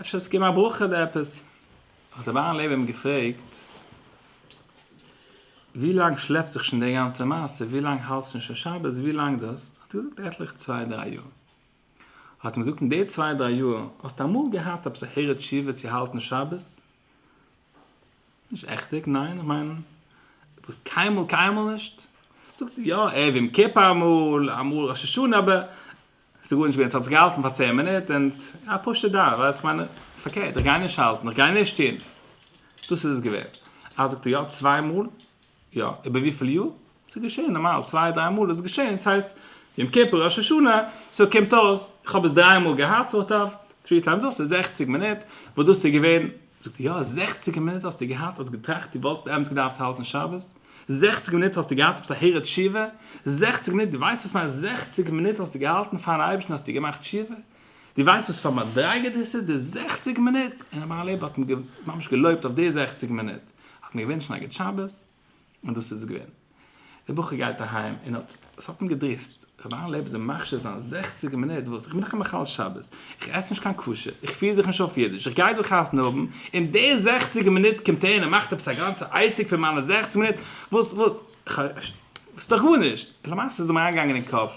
אפשר האסטו געגעבן א ברכה אדער עפעס? האט אברהם לייב אים געפרעגט, ווי לאנג שלעפט זיך שוין די גאנצע מעשה, ווי לאנג האלטסט שוין שוין שבת, ווי לאנג דאס, האט ער געזאגט עטליכע צוויי דריי יאר, האט אים געזאגט אין די צוויי דריי יאר האסטו אמאל געהאט עפעס א הערה תשובה צו האלטן שבת? נישט עכטיג, ניין, איך מיין וואס קיינמאל קיינמאל נישט, זאגט ער, יא ערב יום כיפור אמאל, אמאל ראש השנה, אבער ס'איז גארנישט געווען, ס'האט זיך געהאלטן פאר צען מינוט און א פשוטע דאון, ווייל כ'מיין, פארקערט, איך גיי נישט האלטן, איך גיי נישט טון. דאס איז עס געווען. אה, זאגט ער, יא, צוויי מאל? יא, איבער וויפיל יאר? ס'איז געשען נארמאל, צוויי דריי מאל איז עס געשען, ס'הייסט, יום כיפור, ראש השנה, סאו קומט אויס, איך האב עס דריי מאל געהאט סארט אוו, טרי טיימס דאס איז זעכציג מינוט, וואס דאס איז געווען זאגט ער יא זעכציגער מינוט האסטו געהאט האסט געטראכט דו וואלטסט באמת געדארפט האלטן שבת, זעכציגער מינוט האסטו געהאט עפעס א הרהור תשובה, זעכציגער מינוט דו ווייסט וואס מיינט זעכציגער מינוט האסטו געהאלטן פארן אייבערשטן האסטו געמאכט תשובה, דו ווייסט וואס פאר מדריגה דאס איז די זעכציגער מינוט, און ר' בערל לייב האט אים ממש געלויבט אויף די זעכציגער מינוט, האט אים געווינטשן א גוט שבת. און דאס איז געווען. דער בחור גייט אהיים און האט, עס האט אים געדריסט, רבי אהרן לעבן זיך מחשיב זיין זעכציגער מינוט וואס איך בין דאך א מחלל שבת, איך עס נישט קיין כשר, איך פיר זיך נישט אויף אידיש, איך גיי דא חתונה האבן, און די זעכציגער מינוט קומט ער און ער מאכט עפעס א גאנצע עסק פון מיינע זעכציג מינוט, וואס וואס איך ס'איז דאך גארנישט, און למעשה איז אים אריינגעגאנגען אין קאפ,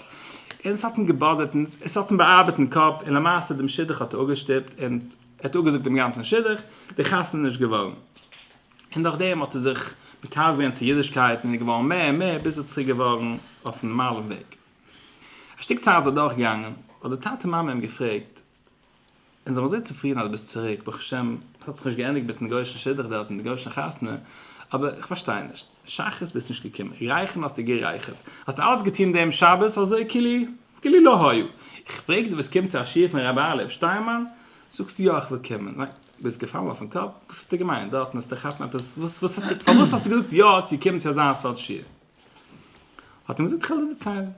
און עס האט אים געבאדערט און עס האט אים באארבעט אין קאפ, און למעשה דעם שידוך האט ער אפגעשטופט און ער האט אפגעזאגט דעם גאנצן שידוך, די חתונה איז נישט געווארן. און דורך דעם האט ער זיך מקרב געווען צו אידישקייט און איז געווארן מער און מער ביז ער איז צוריק געווארן אויפן נארמאלן וועג. א שטיק צייט איז אדורך געגאנגען, האט די טאטע מאמע אים געפרעגט, אונז זעמיר זייער צופרידן אז דו ביסט צוריק, ברוך השם, עס האט זיך נישט געענדיגט מיטן גוי'אישן שידוך דארט און די גוי'אישע חתונה, אבער איך פארשטיי נישט, שחרית ביסטו נישט געקומען, רייכערן האסטו גערייכערט, האסטו אלץ געטון דעם שבת אזוי כאילו לא היה, איך פרעג דיר וואס קומט צו א שיעור פון רבי אלי' שטיינמאן, זאגסטו יא איך וויל קומען. ביסט געפאלן אויפן קאפ? וואס האסטו געמיינט דארטן וועסטו כאפן עפעס? וואס האסטו פארוואס האסטו געזאגט יא צו קומען צו אזא סארט שיעור? האט אים געזאגט כ'על דיר דערציילן,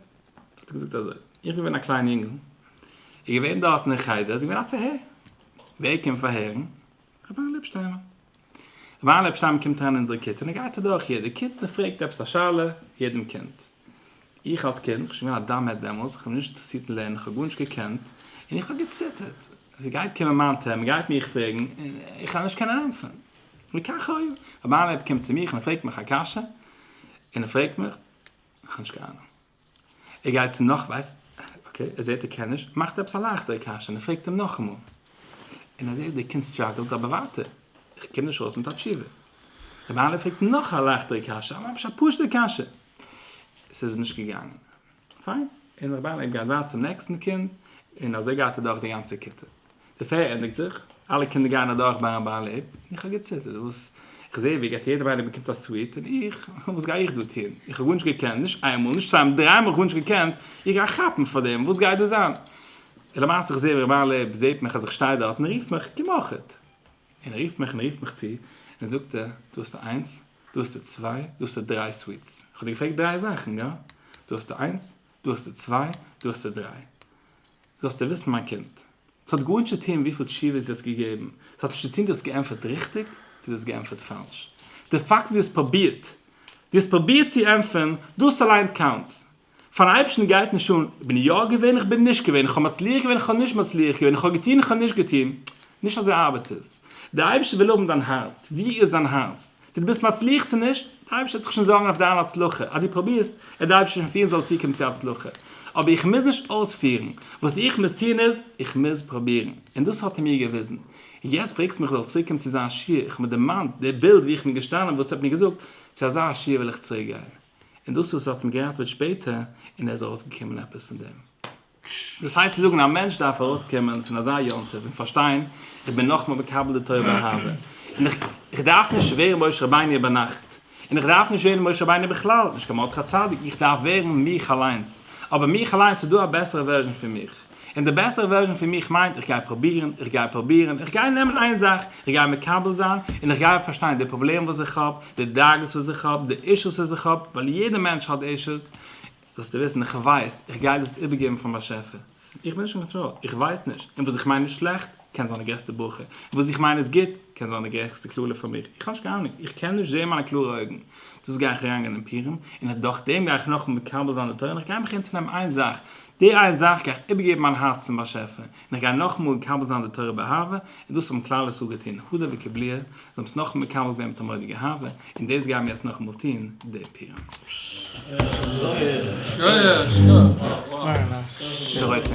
האט ער געזאגט אזוי, איך בין געווען א קליין יונגל, איז געווען דארטן אין חדר איז געווען א פארהער, ווער קומט פארהערן? ר' אהרן ליפשטיימער. ר' אהרן ליפשטיימער קומט אריין אין אונזערע כיתה און ער גייט אדורך יעדע קינד און פרעגט עפעס א שאלה יעדעם קינד. איך אלס קינד, כ'בין שוין געווען א דאם עט דעמאלס, כ'האב נישט אינטערעסירט אין לערנען, כ'האב גארנישט געקענט, און איך האב געציטערט אז ער גייט קומען מיין טערם, ער גייט מיך פרעגן, און איך וועל נישט קענען ענטפערן. וכך היה. רבי אהרן קומט צו מיך און ער פרעגט מיך א קשיא, און ער פרעגט מיך, איך האב נישט קיין אהנונג. ער גייט צו נאך, ווייסט, אקעי, ער זעט ער קען נישט, מאכט ער עפעס א לייכטערע קשיא, און ער פרעגט אים נאכאמאל. און ער זעט ווי דער קינד סטראגעלט אבער ווייטער, איך קום נישט ארויס מיט א תשובה. רבי אהרן פרעגט נאך א לייכטערע קשיא, ממש א פשוט'ע קשיא. עס איז נישט געגאנגען. פיין. און רבי אהרן האט געהייט ווייטער צום נעקסטן קינד, און אזוי גייט ער דורך די גאנצע כיתה. די פעיער ענדיגט זיך, אלע קינדער גייען אדורך ביי רבי אהרן לעב, און איך האב געציטערט, וואס? איך זע ווי ער געבט יעדעם איינעם באקומט א סוויט, און איך? וואס גיי איך דא טון? איך האב גארנישט געקענט, נישט איין מאל, נישט צוויי מאל, דריי מאל האב איך גארנישט געקענט, איך גיי כאפן פאר דעם, וואס גייט דא זיין? און למעשה איך זע ווי רבי אהרן לעב זעט מיך אז איך שטיי דארט און רופט מיך, קום אויכעט. און רופט מיך און רופט מיך צו און זאגט ער, דא האסטו איינס, דא האסטו צוויי, דא האסטו דריי סוויטס. איך האב דיר געפרעגט דריי זאכן, גא? דא האסטו איינס, דא האסטו צוויי, דא האסטו דריי. זאלסטו וויסן מיין קינד, ס'האט גארנישט צו טון וויפיל תשובות דו האסט געגעבן, ס'האט נישט צו טון דו האסט געענטפערט ריכטיג צו דו האסט געענטפערט פאלש. די פאקט אז דו האסט פרובירט, דו האסט פרובירט צו ענטפערן, דאס אליין קאונטס. פארן אייבערשטן גייט נישט אן, איך בין יא געווען, איך בין נישט געווען, איך האב מצליח געווען, איך האב נישט מצליח געווען, איך האב געטון, איך האב נישט געטון, נישט אזוי ארבעט עס, דער אייבערשטער וויל האבן דיין הארץ, ווי איז דיין הארץ? צו דו ביסט מצליח צו נישט, דער אייבערשטער וועט זיך שוין זארגן אויף דיין הצלחה, אז דו פרובירסט, וועט דער אייבערשטער שוין פירן זאל צוקומען צו הצלחה, אבער איך מוז נישט אויספירן, וואס איך מוז טון איז, איך מוז פרובירן, און דאס האט ער מיר געוויזן, און יעצט פרעגסטו מיך איך זאל צוריקקומען צו זיין שיעור, איך האב מיר דערמאנט דער בילד ווי איך בין געשטאנען וואס ער האט מיר געזאגט, צו אזא שיעור וויל איך צוריקגיין. און דאס וואס ער האט אים געראטוועט שפעטער און ער איז ארויסגעקומען עפעס פון דעם. דאס הייסט צו זאגן א מענטש דארף ארויסקומען פון אזא יום טוב און פארשטיין איך בין נאכאמאל מקבל די תורה באהבה און איך איך דארף נישט ווערן משה רבינו איבער נאכט און איך דארף נישט ווערן משה רבינו בכלל נישט קיין מרדכי צדיק איך דארף ווערן מיך אליינס אבער מיך אליינס איז דא א בעסערע ווערזשען פון מיך און די בעסערע ווערזשאן פון מיך מיינט איך גיי פרובירן, איך גיי פרובירן, איך גיי נעמען איין זאך, איך גיי מקבל זיין, און איך גיי פארשטיין די פראבלעם וואס איך האב, די דאגות וואס איך האב, די אישוס וואס איך האב, ווייל יעדע מענטש האט אישוס, זאלסטו וויסן איך ווייס, איך גיי דאס איבערגעבן פאר באשעפער, איך בין נישט אין קאנטראל, איך ווייס נישט, און וואס איך מיין איז שלעכט, קען זיין די גרעסטע בוכע, און וואס איך מיין איז גוט, קען זיין די גרעכסטע קללה פאר מיך, איך האב נישט קיין אהנונג, איך קען נישט זען מיינע קלארע אויגן, דאס גיי איך אריינגיין אין פורים, און דורכדעם גיי איך נאכדעם מקבל זיין די תורה, און איך גיי מיך אונטערנעמען איין זאך, די איין זאך גיי איך איבערגעבן מיין הארץ צום באשעפער, און איך גיי נאכאמאל מקבל זיין די תורה באהבה, און דאס האבן כלל ישראל געטון הודא וקבליה, זיי האבן עס נאכאמאל מקבל געווען מיט א מודיע אהבה, און דאס גייען מיר יעצט נאכאמאל טון די פירמע. די רויטע.